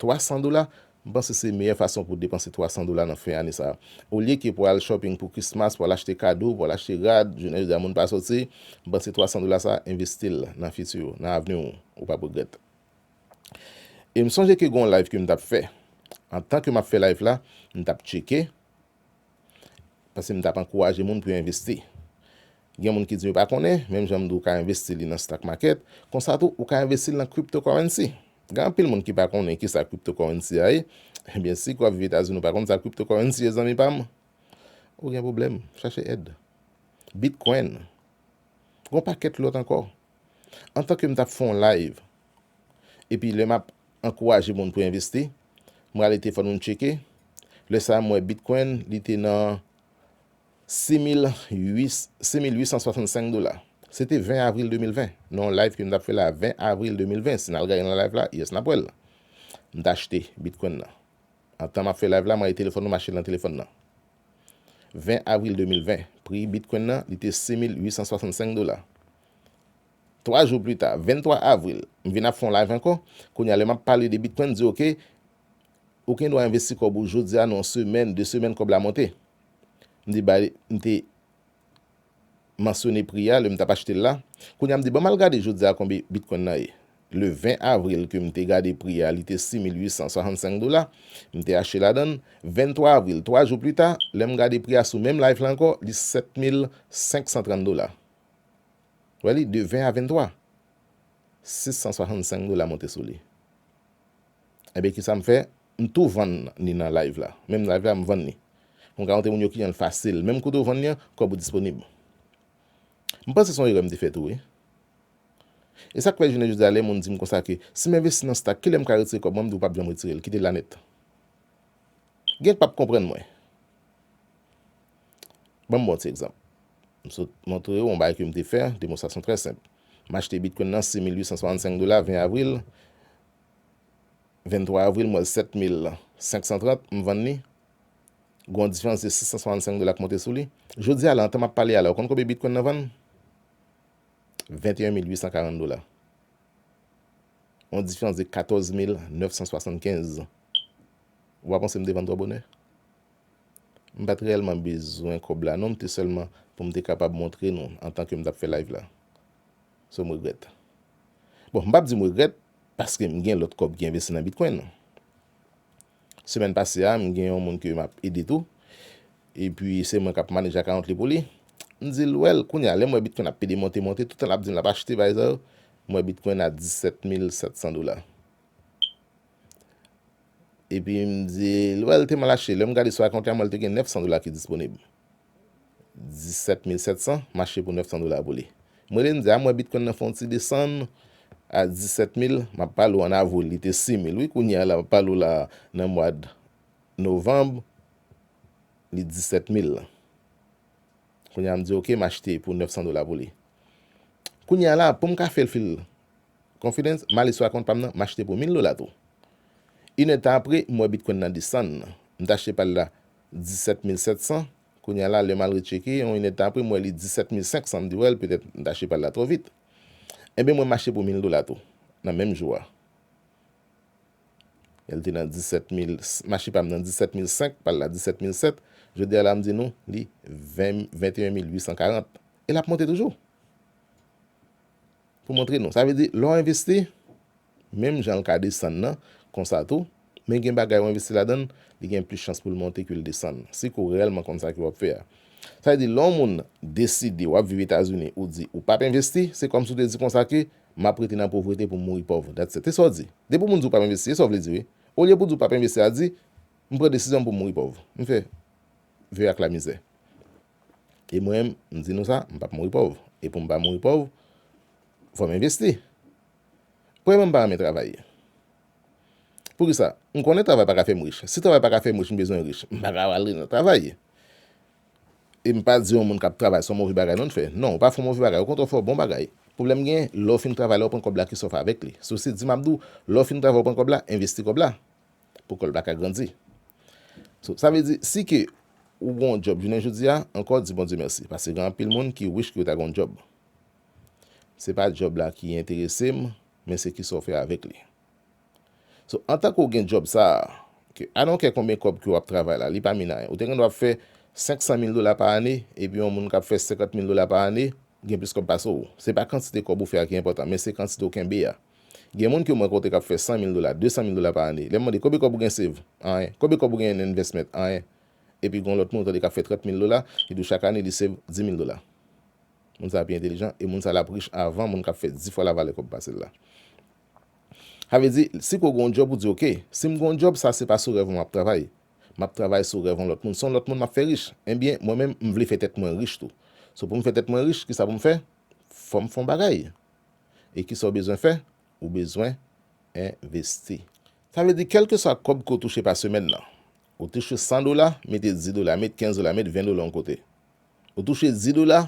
A: 300 dola m panse se meyè fason pou depanse 300 dola nan fen ane sa olye ke pou al shopping pou Christmas pou al achte kado pou al achte rad jounen jodi a moun pa sòti m panse 300 dola sa envestil nan futur ou nan avni ou ou pap regrèt e m sonje ke gen yon live ke m tap fè antan ke map fè live la m tap tcheke Paske m t ap ankouraje moun pou yo envesti. Gen moun ki di yo pa konnen, menm jan m di w ka envesti li nan stock market, konsa tou ou ka envesti l nan cryptocurrency. Gen anpil moun ki pa konnen ki sa cryptocurrency a ye. Ebyen si ke w ap viv Etazini ou pa konn sa cryptocurrency ye zanmi pa m, ou gen pwoblèm, chache èd. Bitcoin. Gen yon pakèt lòt ankò. Antanke m t ap fè yon live Epi lè map ankouraje moun pou envesti, m rale telefòn mwen tcheke, lè sa a m wè Bitcoin li te nan 6865 dola. Se te 20 avril 2020, nan yon live ke m tap fè la 20 avril 2020, si n al gade nan live la, yes nap wè l. M t achte Bitcoin nan. Antan map fè live la m rale telefòn mwen m achte l nan telefòn nan. 20 avril 2020, pri Bitcoin nan li te 6865 dola. 3 jou plita, 23 avril, m vin ap fè yon live ankò, kounye a lè m ap pale de Bitcoin m di ok, ou gen dwa envesti kòb ou jodi a nan yon semèn, 2 semèn kòb la monte. M di bay, m te mansyone pri a lè m t ap achte l la. Kounye a m di ban m al gade jodi a konbe Bitcoin nan ye. Le 20 avril ke m te gade pri a li te 6865 dola, m te achte ladan l. 23 avril, 3 jou plita, lè m gade pri a sou menm live la ankò, li 7530 dola. Wè li de 20 a 23. 665 dola monte sou li. Ebyen kisa m fè? M tou vann ni nan live la. Menm live la m vann ni. Pou m ka montre moun yo kliyan l fasil. Menm kote ou vann ni an, kòb ou disponib. M panse se yon erè m te fè tou wi. E sa k fè jounen jodi a lè moun di m konsa ke si m envesti nan stack kilè m ka retire kòb mwen, m di ou p ap janm retire l. Kite l la nèt. Gen k p ap konprann mwen. Banm bon ti egzanp. M sot montre ou yon bagay ke m te fè, demonstrasyon trè senp. M achte bitcoin nan 6865 dola 20 avril, 23 avril m wè l 7530, m vann li, gon yon diferans de 665 dola k monte sou li. Jodi a la, antan m ap pale a la, ou konn konbyen bitcoin nan vann? 21840 dola. Yon diferans de 14975. Ou pa panse m te vann twò bonè? M pa t reyèlman bezwen kòb la non, m te sèlman pou m te kapab montre nou antan ke m t ap fè live la. So m regrèt. Bon, m p ap di m regrèt paske m gen lòt kòb ki envesti nan Bitcoin. Semèn pase a, m gen yon moun ke m ap ede tou, epi se mwen k ap manage account li pou li. M di l, Well, kounye a, lè m wè Bitcoin ap pede monte monte, toutan l ap di m l ap achte bagay sa yo, m wè Bitcoin a 17 mil 700 dola. Epi m di, wè l te mal achte. Lè m gade sou akant li a, m wè l te gen 900 dola ki disponib. 17700 mache pou 900 dola pou li. M rele m di, a m wè bitcoin nan fè yon ti desann a 17000, m ap pale w an avril li te 6000 wi kounye a la m ap pale w la nan mwad novanb li 17000 lan. Kounye a m di ok m achte pou 900 dola pou li. Kounye a la pou m ka fè l fè l Confidence, Male sou akont pam nan, m achte pou 1000 dola tou. Inèd tan apre, m wè Bitcoin nan desann. M t achte pal la 17700, kounya la lè m al retcheke, yon inèd tan apre m wè li 17500, m di wèl petèt m t achte pal la twò vit. Enben mwen m achte pou 1000 dola tou, nan menm jou a. Lè l te nan 17000, m achte pam nan 17005, pal la 17007, jodi a la m di nou li 21840. E l ap monte toujou! Pou montre nou. Sa vle di, lè w envesti, menm jan l ka desann nan, konsa tou, men gen bagay ou envesti ladan l, li gen plis chans pou l monte ke l desann, si ke w reyèlman konn sa ke w ap fè a. Sa vle di, lè yon moun deside w ap viv Etazini, ou di ou p ap envesti, se kòmsi w te di konsa ke, m ap rete nan povrete pou m mouri pòv. That's it. Se sa w di. Depi w moun di w p ap envesti, se sa w vle di wi. Olye pou w di w p ap envesti a, di, m pran desizyon m pou m mouri pòv. M fè. Ve ak lamizè. E mwen, m di nou sa, m pap mouri pòv. E pou m pa mouri pòv, fò m envesti. Premyèman, m pa renmen travay. Poukisa? M konnen travay pa ka fè m rich. Si travay pa ka fè m rich, m bezwen rich. M pa ka ale nan travay. E m pa di yon moun k ap travay se yon move bagay non l fè. Non, ou pa fè yon move bagay. Okontrè, ou fè yon bon bagay. Pwoblèm gen, lè ou fin travay la, ou pran kòb la, ki sa ou fè avèk li? Sosi di m ap di w, lè ou fin travay ou pran kòb la, envesti kòb la. pou kòl pa ka grandi so sa vle di si ke ou gon djòb jounen jodia ankò di Bondye mèsi paske gen anpil moun ki wish ke yo ta gon djòb se pa djòb la ki enterese m men se kisa w fè avèk li so antan ke w gen djòb sa ke I don't care konbyen kòb ke w ap travay la li pa min anyen ou te gen dwa ap fè 500 mil dola pa ane epi yon moun kap fè 50 mil dola pa ane gen plis kòb pase w se pa kantite kòb ou fè a ki enpòtan men se kantite w kenbe a. Gen moun ke mwen konte kap fè 100 mil dola, 200 mil dola pa ane. Lèm mande konbe kòb ou gen save? Anyen. Konbe kòb ou gen nan investment? Anyen. Epi gon lòt moun ou tande kap fè 30 mil dola, li di ou chak ane li save 10 mil dola. Moun sa pi entelijan e moun sa lap rich avan moun kap fè 10 fwa la valè kòb pasel la. Sa vle di, si ke ou gen yon job ou di ok, sim gen yon job sa se pa sou rèv mwen map travay. Map travay sou rèv yon lòt moun. Se yon lòt moun map fè rich. Enbyen, mwen menm m vle fè tèt mwen rich tou. So poum fè tèt mwen rich, kisa poum fè? Fòm fon bagay. E kisa w bezwen fè? Ou bezwen envesti. Sa vle di kèlkeswa kòb ke w touche pa semèn nan. Ou touche 100 dola, mete 10 dola, met 15 dola, met 20 dola yon kote. Ou touche 10 dola,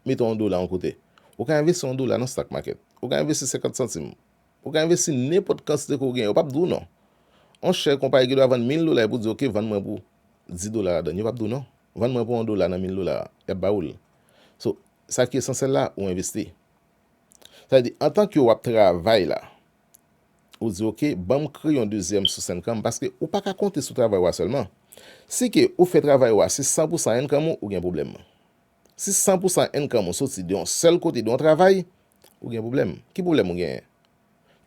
A: mete yon dola yon kote. Ou ka envesti yon dola nan stock market. Ou ka envesti 50 santim. Ou ka envesti nenpòt kantite ke w genyen. Yo pap di w non. Yon chè konpayi gendwa vann 1000 dola epi w di ok vann mwen pou 10 dola ladann. Yo pap di w non. Vann mwen pou yon dola nan 1000 dola a. Yap ba ou l. So, sa ki esansyèl la, ou envesti. Sa vle di, antan ke w ap travay la, ou di ok, ban m kreye yon dezyèm sous enkan m, paske ou pa ka konte sou travay ou a sèlman. Si ke ou fè travay ou a se san pou san enkan m ou, ou gen pwoblèm. Si san pou san enkan m ou soti de yon sèl kote, de yon travay, ou gen pwoblèm. Ki pwoblèm ou genyen?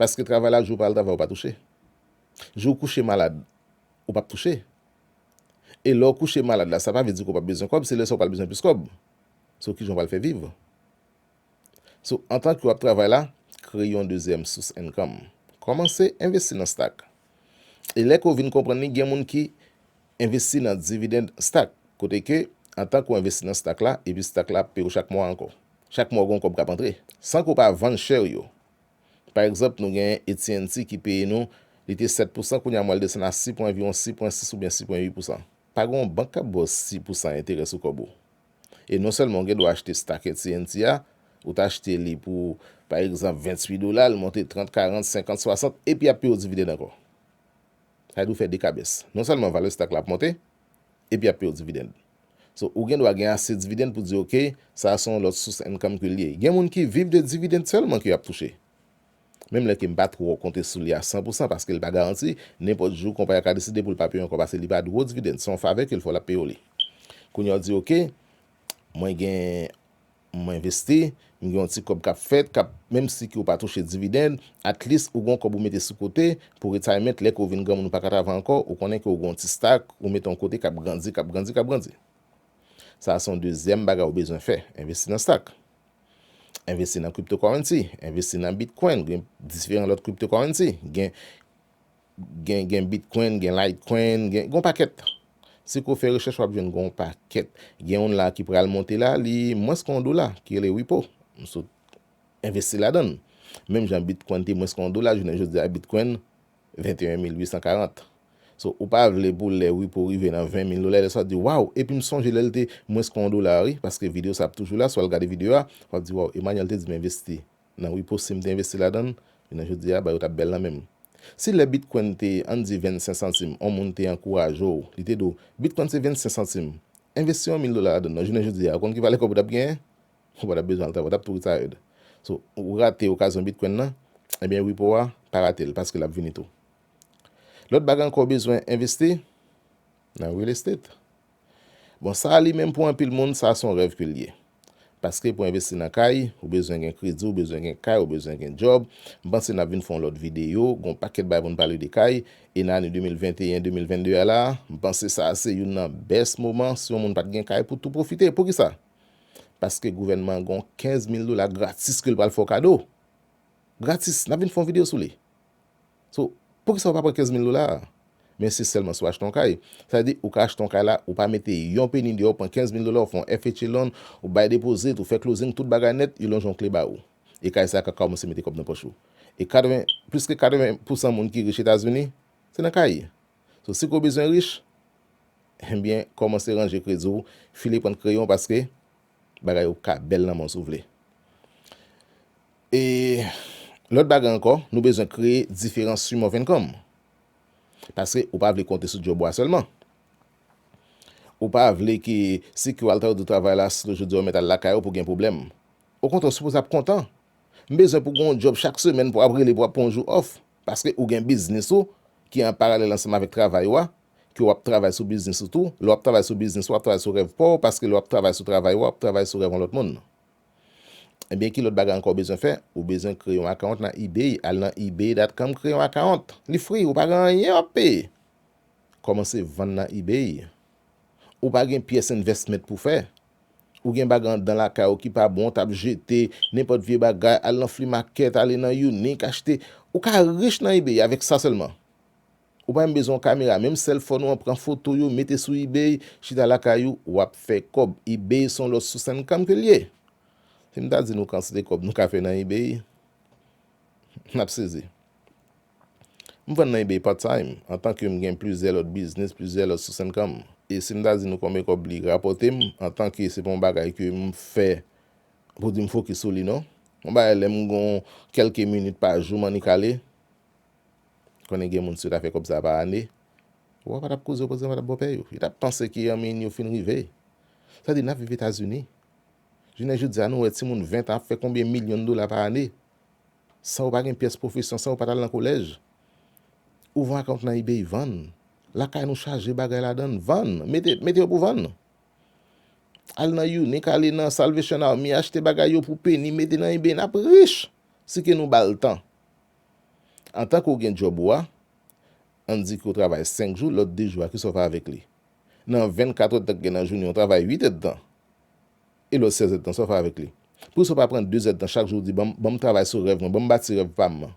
A: Paske travay la, jou ou pa al travay ou pa touche. Jou ou kouche malad, ou pa p touche. E lè ou kouche malad la, sa pa vle di ke ou pa p bezwen kòb, se lè sa ou pral bezwen plis kòb. So, kijan ou pral fè viv? So antan ke w ap travay la, kreye yon dezyèm sous enkanm. Kòmanse envesti nan stak. E lè ke w vin konprann li gen moun ki envesti nan dividend stak, kote ke antan ke w envesti nan stak la epi stak la ap peye w chak mwa ankò. Chak mwa gen kòb k ap antre san ke w pa vann share w yo. Pa egzanp nou gen AT&T ki peye nou, li te 7 pousan kounye a m wè l desann a 6 pwen anviwon 6 pwen 6 oubyen 6 pwen 8 pousan. Pa gen yon bank k ap ba w 6 pousan enterè sou kòb ou. E non sèlman ou gen dwa achte stock AT&T a, ou ta achte li pou pa egzanp 28 dola, l monte 30, 40, 50, 60, epi y ap peye w dividend ankò. Sa vle di ou fè 2 kabès. Non sèlman valè stock la ap monte, epi y ap peye w dividend. So, ou gen dwa gen ase dividend pou di ok, sa a se yon lòt sous income ke l ye. Gen moun ki viv de dividend sèlman ke y ap touche. Menm lè ke m pa twò konte sou li a san pou san paske li pa garanti, nenpòt jou konpayi a ka deside pou l pa peye w ankò paske li pa dwo dividend, se yon favè ke l fè w l ap peye w li. Kounye a w di ok, mwen gen, m envesti, m gen yon ti kòb k ap fèt, k ap, menm si ke w pa touche dividend, at least ou gen yon kòb ou mete sou kote pou retirement lè ke w vin granmoun ou pa ka travay ankò, ou konnen ke w gen yon ti stack ou mete yon kote k ap grandi, k ap grandi, k ap grandi. Sa a se yon dezyèm bagay ou bezwen fè, envesti nan stack. Envesti nan cryptocurrency, envesti nan bitcoin, gen diferan lòt cryptocurrency, gen gen bitcoin, gen litecoin, gen yon pakèt. Si ko fè rechèch wap jwenn gen yon pakèt. Gen yon la ki pral monte la, li mwens ke yon dola, ki rele Ripple. M sot envesti ladan. Menm jan bitcoin te mwens ke yon dola, jounen jodi a bitcoin 21 mil 840 so ou pa vle pou lè Wipo rive nan 20 mil dola lè sa wap di waw epi m sonje lèl te mwens ke yon dola wi paske video sa ap toujou la si wal gade video a wap di waw Emmanuel te di m envesti nan Wipo sim te envesti ladann jounen jodia bagay yo tap bèl nan menm si lè Bitcoin te ann di 25 santim yon moun te ankouraje w li te di w Bitcoin se 25 santim envesti yon mil dola ladann non jounen jodia ou konn ki valè kòb ou tap genyen Ou pa tap bezwen al travay, ou tap tou retired. So, ou rate okazyon Bitcoin nan, ebyen repo a, pa rate l paske lap vini tou. Lòt bagay ankò ou bezwen envesti, nan real estate. Bon sa a li menm pou anpil moun sa son rèv ke l ye. Paske pou envesti nan kay, ou bezwen gen kredi, ou bezwen gen kay, ou bezwen gen djòb. M panse nap vin fè yon lòt videyo, gon pakèt bagay pou n pale de kay. E nan ane 2021, 2022 a la a, m panse sa a se youn nan best moman si yon moun pat gen kay pou tou pwofite. Poukisa? paske gouvènman an gon 15 mil dola gratis ke l pral fè w kado gratis n ap vin fè yon video sou li so poukisa ou pa pran 15 mil dola a men se sèlman si w achte yon kay sa vle di ou ka achte yon kay la ou pa mete yon peni deyò ou pran 15 mil dola ou fè yon FHA loan ou bay depozit ou fè closing tout bagay nèt yo lonje yon kle ba ou e kay sa a ka kòmanse mete kòb nan pòch ou e 80 plis ke 80 pousan moun ki rich Etazini se nan kay. So si ke w bezwen rich, enbyen kòmanse ranje kredi w, file pant kreyon paske bagay yo ka bèl nan men w si w vle. E lòt bagay ankò, nou bezwen kreye diferan stream of income. Paske ou pa vle konte sou djòb ou a sèlman. Ou pa vle ke si ke w al travay travay la, si ke jodi a ou mèt al lakay ou pou gen pwoblèm. Okontrè, ou sipoze ap kontan. M bezwen pou gen yon djòb chak semèn pou ap rele pou ap pran yon jou off. Paske ou gen biznis ou ki an paralèl ansanm avèk travay ou a, ke w'ap travay sou biznis ou tou. Lè w'ap travay sou biznis ou, w'ap travay sou rèv pa w, paske lè w'ap travay sou travay ou a, w'ap travay sou rèv yon lòt moun. Ebyen ki lòt bagay ankò ou bezwen fè? Ou bezwen kreye yon account nan ebay. Al nan ebay dot com kreye yon account. Li free, ou pa gen anyen w'ap peye. Kòmanse vann nan ebay. Ou pa gen pyès investment pou fè. Ou gen bagy andan lakay ou ki pa bon ou tap jete, nenpot vye bagay, al nan flea market, ale nan unique achte, ou ka rich nan ebay avek sa selman. Ou pa menm bezwen yon kamera, menm sel fon ou an pran foto yo mete sou ebay, chita lakay ou, wap fè kob. Ebay son lot sous income ke li ye. Si m ta di nou kantite kob nou ka fè nan ebay, nap sezi. M vann nan ebay part time, antan ke m gen plizyè lòt biznis, plizyè lòt sous income. E si m ta di nou konbyen kòb li rapòte m, antan ke se pa yon bagay ke m fè pou di m fokis sou li non. Yon bagay lè m gon kèlke minit pa jou m annik ale, konnen gen moun si yo ta fè kòb sa pa ane, wa w pa t ap koze yo koze m pa t ap bòpè yo. Yo t ap panse ke anmeyy yo fin rive. Sa di n ap viv Etazini. Jounen jodi a nou wè timoun 20 tan ap fè konbyen milyon dola pa ane. San ou pa gen pyès pwofesyon, san ou pa t al nan kolèj, ou vann akawont nan ebay, vann. Lakay nou chaje bagay ladan l, vann. Mete, mete yo pou vann. Ale nan Younik, ale nan Salvation Army, achte bagay yo pou peni, mete nan ebay, n ap rich! Si ke nou ba l tan. Antan ke ou gen djòb ou a, ann di ke ou travay senk jou, lòt de jou a, kisa ou fè avèk li? Nan vennkatrèdtan ki gen nan jounen an, ou travay uit èdtan. e lòt sèzèd tan sa w fè avèk li? Poukisa w pa pran dezèd tan chak jou w di, Ban m travay sou rèv mwen, ban m bati rèv pa m nan?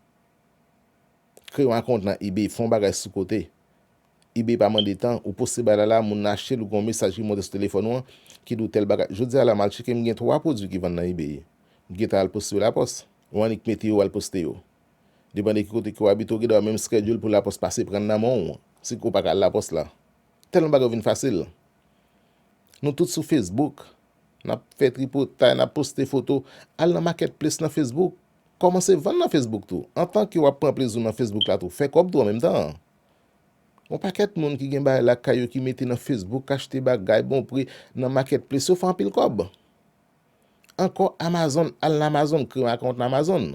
A: Kreye yon akowont nan ebay, fè yon bagay sou kote. Ebay pa mande tan, ou poste bagay la la, moun nan achte l, ou gen yon mesaj ki monte sou telefòn ou an ki di w tèl bagay. Jodi a la, m al tcheke, m gen twa pwodui ki vann nan ebay. M gentan al poste yo lapòs. Ou annik mete yo, ou al poste yo. Depann de ki kote ke w abite, ou gen dwa menm skedyoul pou lapòs pase pran l nan men w, si ke w pa ka al lapòs la. Tèlman bagay yo vin fasil. Nou tout sou Facebook, n ap fè tripotay, n ap poste foto. Al nan Marketplace nan Facebook. Kòmanse vann nan Facebook tou. Antan ke w ap pran plezi w nan Facebook la tou, fè kòb tou an menm tan an. Gon pakèt moun ki gen bagay lakay yo ki mete nan Facebook, achte bagay bon pri nan Marketplace yo fè anpil kòb. Ankò Amazon, al nan Amazon, kreye yon account nan Amazon.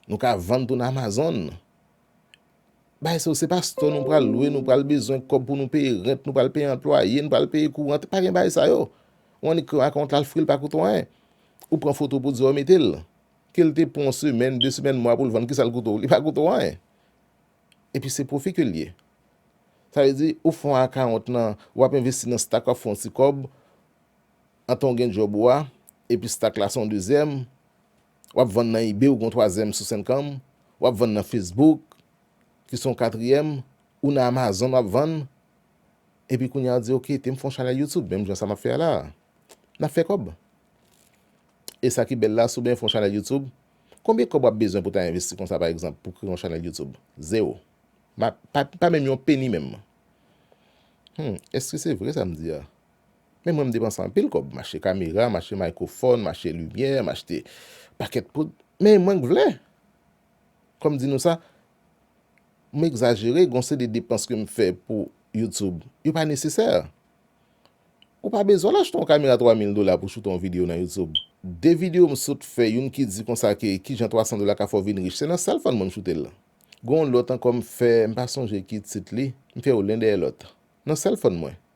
A: Nou ka vann tou nan Amazon. Bay se yo se pa store nou pral lwe nou pral bezwen kob pou nou peye rent nou pral peye anplwaye nou pral peye courant pa gen bay sa yo ou annik kreye account la al fril pa koute w anyen ou pran foto pou diw mete l kel te pran w semèn de semèn mwa pou l vann kisal koute w li pa koute w anyen epi se profi ke l ye sa vle di ou fon account nan wap envesti nan stack wap fon yon ti kob antan w gen job ou a epi stack la son dezyèm wap vann nan ebay ou gen yon twazyèm sous enkanm, wap vann nan facebook ki son katriyèm, ou nan amazon wap vann, epi kounye a ou di ok tem fon chanèl youtube menm jan sa map fè a la, nap fè kòb e sa ki bèl la sou byen fon chanèl youtube konbyen kòb wap bezwen pou ta envesti konsa pa egzanp pou kreye yon chanèl youtube zero ma pa menm yon peni menm hum eske se vre sam di a Men mwen m depanse anpil kòb, m achte kamera, m achte microphone, m achte limyè, m achte pakèt poud, men mwen k vle. Kòm di nou sa, m egzajere, gon seri de depans ke m fè pou YouTube, yo pa nesesè. Ou pa bezwen al achte yon kamera 3000 dola pou choute yon video nan YouTube. De video m sot fè, youn ki di konsa ke kijan 300 dola ka fè w vin rich, se nan sal fan mwen m choute l. Gon yon lòt ankò m fè, m pa sonje ki tit li, m fè yo len dèyè lòt, nan sèl fan mwen.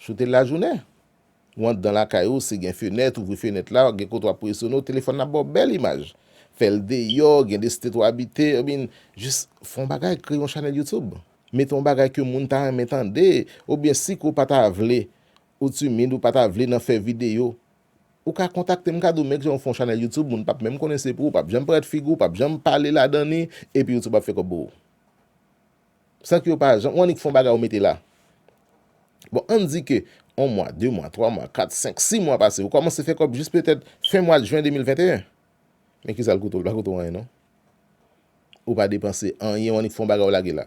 A: Choute lajounen. Ou anndan lakay ou, si gen fenèt, ouvri fenèt la, gen kote w ap presone w, telefòn nan ap ba w bèl imaj. Fè l deyò, gen de state w abite, oubyen jis fè yon bagay, kreye yon chanèl YouTube. Mete yon bagay ke moun ta renmen tande, oubyen si ke w pa ta vle, ou timid, ou pa ta vle nan fè videyo, ou ka kontakte m, m ka di w menm jan ou fè yon chanèl YouTube, moun pap menm konnen se pou ou, pap janm parèt figi w, pap janm pale ladan li, epi YouTube ap fè kòb pou ou. San ke yo pa janm, ou annik fon bagay ou mete la. Bon, ann di ke on mwa, de mwa, twa mwa, kat, senk, si mwa pase, ou kòmanse fè kòb jis petèt fen mwad jwen 2021. Men kisa l koute ou? L pa koute ou anyen non. Ou pa depanse anyen, ou annik fon bagay ou lage la.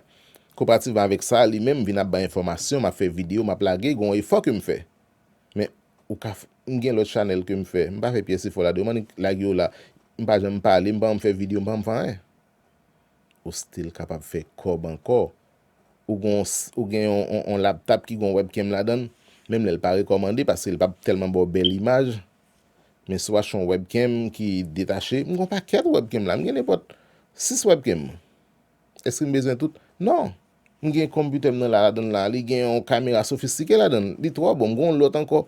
A: Konparativman avèk sa, li menm vin ap bay enfòmasyon, m ap fè videyo, m ap lage, gon efò ke m fè. Men, ou ka, m gen lòt chanèl ke m fè, m pa fè pyès efò ladan yo, m annik lage yo la. M pa janm pale, m pa janm fè videyo, m pa janm fè anyen. Ou still kapab fè kòb ankò. Ou gon ou gen yon yon laptap ki gon webcam ladann, menm lè l pa rekòmande paske l pa p tèlman ba w bèl imaj, men si w achte yon webcam ki detache, m gon pakèt webcam la, m gen nenpòt 6 webcam. Èske m bezwen tout? Non! M gen konpitè m nan la ladann la, li gen yon kamera sofistike ladann, li twò bon, m gon lòt ankò.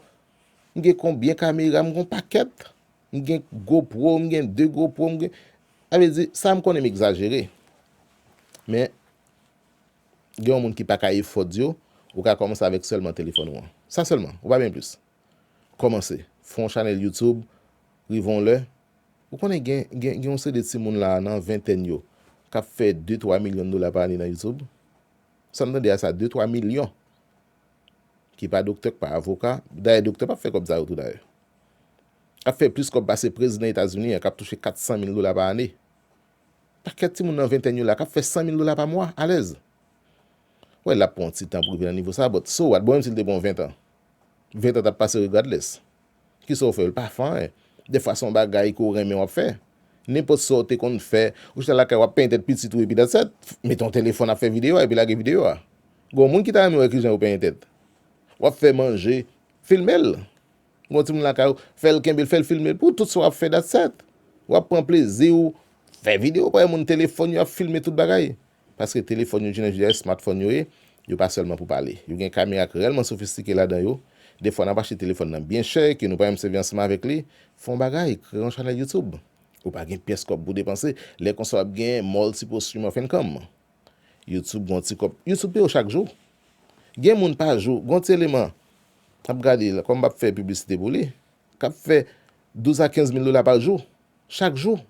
A: M gen konbyen kamera, m gon pakèt. M gen Go Pro, m gen 2 Go Pro, m gen. Sa vle di, sa m konnen m egzajere. Men, gen yon moun ki pa ka efòd yo, ou ka kòmanse avèk sèlman telefòn ou an. Sa sèlman, ou pa byen plis. Kòmanse. Fè yon chanèl YouTube, rive yon lè. Ou konnen gen, gen, gen yon seri de timoun la a nan ventèn yo, k ap fè 2, 3 milyon dola pa ane nan YouTube. Sa m tande a sa, 2, 3 milyon! ki pa doktè, ki pa avoka, dayè doktè pap fè kòb sa yo tou dayè, ap fè plis kòb pase prezidan Etazini an k ap touche 400 mil dola pa ane. Pakèt timoun nan ventèn yo la k ap fè 100 mil dola pa mwa alèz. Wè l ap pran yon ti tan pou rive nan nivo sa a, but so what, bon menm si l te pran 20 an, 20 an t ap pase regardless. Kisa w fè? L pa fè anyen. Dèfwa se yon bagay ke w renmen w ap fè. Nenpòt sa w te konn fè, ou chita lakay w ap penyen tèt pitit ou epi dats et. Mete yon telefòn ap fè videyo a epi lage videyo a. Gen yon moun ki ta renmen wè kijan yo penyen tèt. W ap fè manje, filme l. Gen yon timoun lakay ou, fè l kenbe l, fè l filme l pou w tout sa w ap fè dats et. W ap pran plezi w, fè videyo, bay moun telefòn yo ap filme tout bagay. Paske telefòn yo jene jè smartphone yo ye, yo pa sèlman pou pale. Yo gen kamera k rèlman sofistike ladan yo. Defwa n ap achte telefòn nan byen chè ke nou pa menm sèvi ansanm avèk li. Fè yon bagay, kreye yon chanèl YouTube. Ou pa gen pyès kòb pou w depanse. Lè konsa w ap gen multiple stream of income. YouTube gen yon ti kòb. YouTube peye w chak jou. Gen moun pa jou, gen yon ti eleman, m ap gade la, kòm m pap fè piblisite pou li, k ap fè 12 a 15 mil dola pa jou. Chak jou.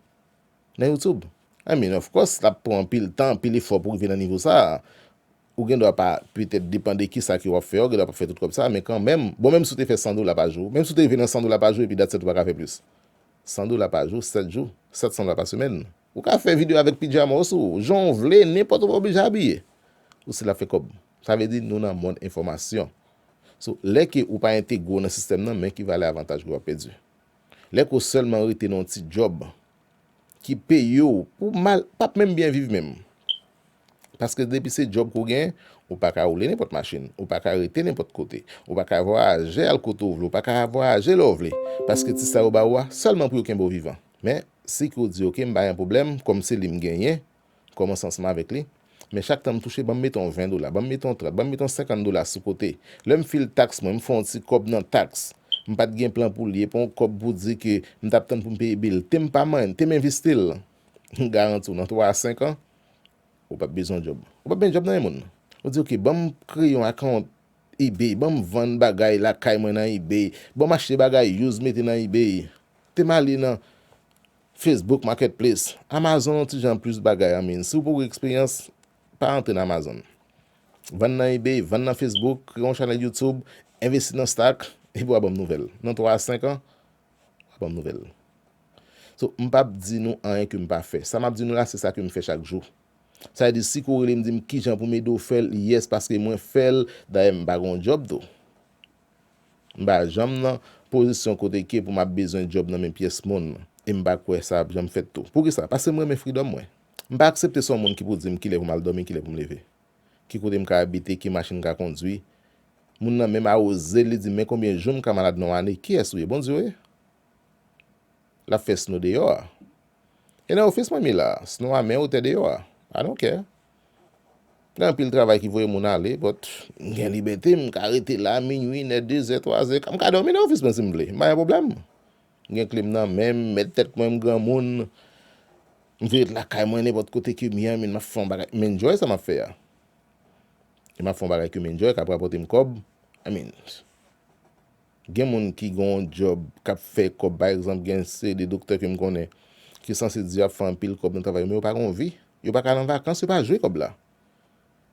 A: Nan youtube? I mean of course lap pran anpil tan anpil efò pou rive nan nivo sa a. Ou gen dwa pa, petèt depan de kisa ke wap fè a ou gen dwa pa fè tout kòb sa a men kanmèm, bon menm si ou te fè 100 dola pa jou, menm si ou te rive nan 100 dola pa jou epi that's it ou pa ka fè plis. 100 dola pa jou 7 jou, 700 dola pa semèn. Ou ka fè video avèk pijama w sou ou, jan ou vle, nenpòt ou pa oblije abiye. Ou stil ap fè kòb. Sa vle di nou nan mond enfòmasyon. So lè ke ou pa entegre w nan sistèm nan men ki valè avantaj ke wap pèdi. Lè ke w sèlman rete nan yon ti djòb ki peye w pou w mal, pap menm byen viv menm. Paske depi se djòb ke w gen, ou pa ka woule nenpòt machin, ou pa ka rete nenpòt kote, ou pa ka vwayaje al kote w vle, ou pa ka vwayaje lè w vle. Paske ti sa yo ba ou a, sèlman pou yo kenbe w vivan. Men, si ke w di, ok, m pa gen pwoblèm, kòm se li m genyen, kòmanse ansanm avèk li, men chak tan m touche banm mete yon 20 dola, banm mete yon 30, banm mete yon 50 dola sou kote. Lè m fil taks mwen, m fè yon ti kòb nan taks. M pa t gen plan pou l ye, pa yon kòb pou di ke m t ap tann pou m peye bil. Te m pa manyen, te m envesti l. M garanti w nan 3 a 5 an, ou p ap bezwen yon djòb. Ou p ap gen djòb nan men moun. Ou di oke, banm kreye yon akawont ebay, banm vann bagay lakay mwen nan ebay, banm achte bagay use mete nan ebay. Te m ale nan Facebook Marketplace, Amazon yon ti jan plis bagay an min. Si w poko gen eksperyans, pa antre nan Amazon. Vann nan eBay, vann nan Facebook, kreye yon chanèl YouTube, envesti nan stock, epi w a ban m nouvèl. Nan 3 a 5 an, w a ban m nouvèl. So, m pa p di nou anyen ke m pa fè. Sa m ap di nou la, se sa ke m fè chak jou. Sa vle di si ke w rele m di m kijan pou m ede w fè l, yes, paske mwen fè l, dayè m pa gen yon job tou. M pa janm nan pozisyon kote ke pou m ap bezwen djòb nan men pyès moun, e m pa kwè sa ap janm fèt tou. Poukisa? Paske m renmen fridòm mwen. M pa aksepte son moun ki pou di m kilè pou m al dòmi, kilè pou m leve, ki kote m ka abite, ki machin m ka kondwi. Moun nan menm awoze l, li di m men konbyen jou m ka malad nan yon ane. Kiyès ou ye? Bondye w ye? L ap fè sno deyò a. E nan ofis mwen mi la a? Sno a men ou, tè deyò a. I don't care. Gen anpil travay ki voye moun ale, but m gen libète m ka rete la a minui, in è, dezè, twazè, m ka dòmi nan ofis mwen si m vle, m pa gen pwoblèm. M gen kle m nan men m, m mèt tèt mwen, m granmoun, m vle ret lakay mwen nenpòt kote ke m ye, min m ap fè yon bagay, m enjoy sa m ap fè a. E m ap fè yon bagay ke m enjoy, k ap rapòte m kòb, I mean. Gen moun ki gen yon djòb k ap fè kòb pa egzanp gen yon seri de doktè ke m konnen ki sanse di yo ap fè anpil kòb nan travay yo men yo pa gen yon vi yo pa ka al an vakans yo pa jwe kòb la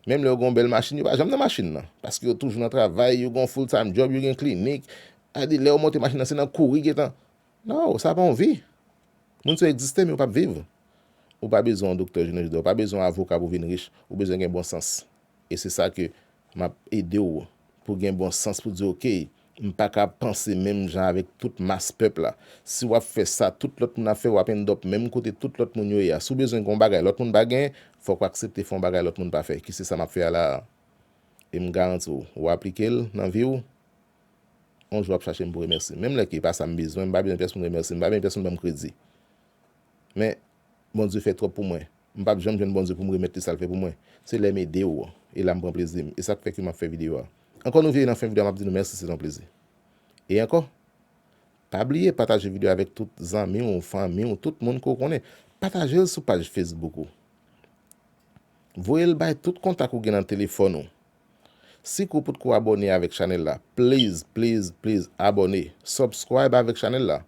A: menm lè yo gen yon bèl machin yo pa janm nan machin nan paske yo toujou nan travay yo gen yon full time djòb yo gen klinik sètadi lè yo monte machin nan se nan kouri gentan no sa pa yon vi moun sa yo egziste men yo p ap viv ou pa bezwen yon doktè jounen jodi a ou pa bezwen yon avoka pou w vin rich ou bezwen gen bon sans. E se sa ke m ap ede w pou gen bon sans pou di ok, m pa ka panse menm jan avèk tout mas pèp la. Si w ap fè sa tout lòt moun ap fè, w ap end up menm kote tout lòt moun yo ye a. Si w bezwen gen yon bagay lòt moun pa gen, fòk w aksepte fè yon bagay lòt moun pa fè, ki se sa m ap fè a la a. E m garanti w, w aplike l nan vi w, yon jou w ap chache m pou remèsye m. Menm lè ke e pa sa m bezwen, m pa bezwen pèsonn remèsye m, m pa bezwen pèsonn ban m kredi. Men, Bondye fè twòp pou mwen. M pap janm jwenn Bondye pou m remèt li sa l fè pou mwen. Se lè m ede w e la m pran plezi m. E sa k fè ke m ap fè videyo a. Ankò nou veye nan fen videyo a m ap di nou mèsi se te yon plezi. E ankò Pa bliye pataje videyo a avèk tout zanmi w, fanmi w, tout moun ke w konnen. Pataje l sou paj Facebook ou. Voye l bay tout kontak ou gen nan telefòn ou. Sike w potko abòne avèk chanèl la please please please abòne subscribe avèk chanèl la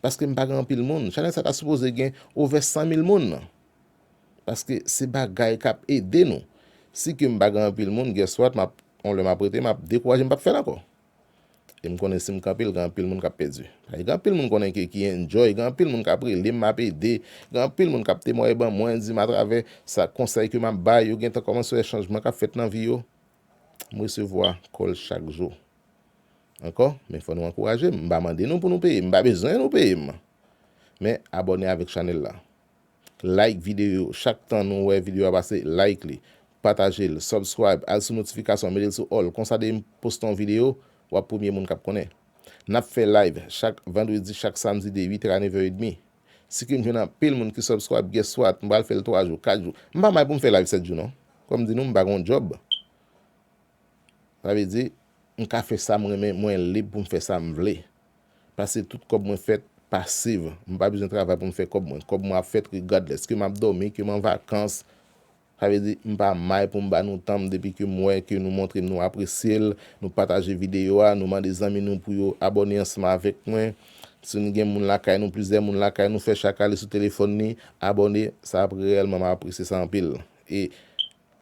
A: paske m pa gen anpil moun chanèl sa ta sipoze gen ovè 100 mil moun nan paske se bagay kap ede nou sike m pa gen anpil moun guess what map yon lè map rete map dekouraje m pap fèl ankò. E m konnen si m kanpe l gen anpil moun k ap pèdi. Paske gen anpil moun konnen ke ki enjoy, gen anpil moun k ap rele m m ap ede, gen anpil moun k ap temwaye ban mwen, di m atravè sa konsèy ke m ap bay yo gen tan kòmanse wè chanjman k ap fèt nan vi yo. M resevwa kòl chak jou. Ankò, men fò nou ankouraje m. M pa mande nou pou nou peye m, m pa bezwen nou peye m. Men abòne avèk chanèl la. Like video yo chak tan nou wè video a pase like li pataje l subscribe al sou notification mete l sou all konsa depim poste yon video wap premye moun kap konnen nap fè live chak vendredi chak samedi de 8 è a 9 è edmi sikim jwenn anpil moun ki subscribe guess what m pral fè l 3 jou 4 jou m pa may poum fè live 7 jou non kòm di nou m pa gen yon job sa vle di m ka fè sam renmen mwen lib poum fè sam vle. Pase tout kòb mwen fèt pasiv. M pa bezwen travay pou m fè kòb mwen. Kòb mwen ap fèt regardless. Ke m ap dòmi, ke m an vakans. Sa vle di, m pa may pou m ba nou tan m depi ke m wè ke nou montre m nou apresye l, nou pataje videyo a, nou mande zanmi nou pou yo abòne ansanm avèk mwen. Si nou gen moun lakay nou, plizyè moun lakay nou, fè chak ale sou telefòn li, abòne, sa ap reyèlman m ap apresye sa anpil. E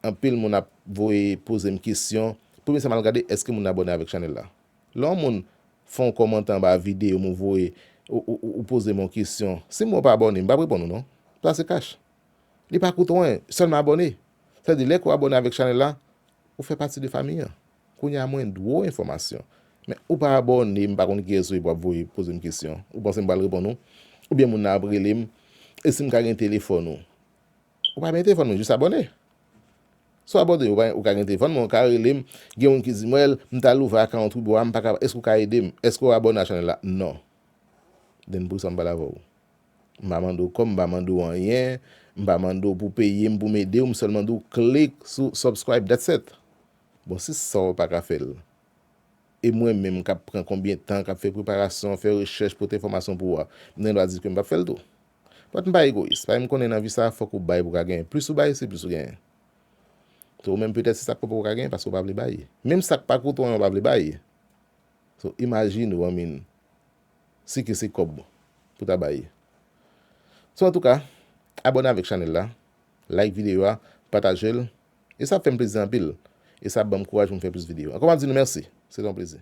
A: anpil moun ap voye poze m kesyon, premye sa m al gade, èske moun nan abòne avèk chanèl la? Lè yon moun fè yon kòmantè anba video m ou voye ou poze m yon kesyon si m wè w pa abòne m pap reponn ou non sa se kach li pa koute w anyen sèlman abòne sa di lè ke w abòne avèk chanèl la ou fè pati de famiy an kounye a mwen dwe w enfòmasyon men ou pa abòne m pa konn kiyès ou ye pou ap voye poze m kesyon ou panse m pral reponn ou oubyen moun nan ap rele m e si m ka gen telefòn ou Ou pa gen telefòn mwen jis abòne. Si w abòne ou pa ou ka gen telefòn mwen ou ka rele m gen moun ki di m wèl m ta l ouvè account wi boo a m pa ka èske ou ka ede m èske w abòne a channel la non den poukisa m pral avè w m pa mande w kòb m pa mande w anyen m pa mande w pou w peye m pou m ede w m sèlman di w klik sou subscribe that's it bon si sa w pa ka fè l e mwen menm kap pran konbyen tan kap fè preparasyon fè rechèch pote enfòmasyon pou ou a m gen dwa di ke m pap fè l tou. But m pa egoyis paske m konnen nan vi sa a fòk ou bay pou ka genyen. Plis ou bay se plis ou genyen. So ou menm petèt se sa k fè ou poko ka genyen paske ou pa vle bay. Menm sa k pa koute w anyen ou pa vle bay. So imajine ou I mean si ke se kòb pou ta bay. So antouka abòne avèk chanèl la, like videyo a, pataje l e sa ap fè m plezi anpil e sa ap ban m kouraj pou m fè plis videyo. Ankò m ap di nou mèsi. Se te yon plezi.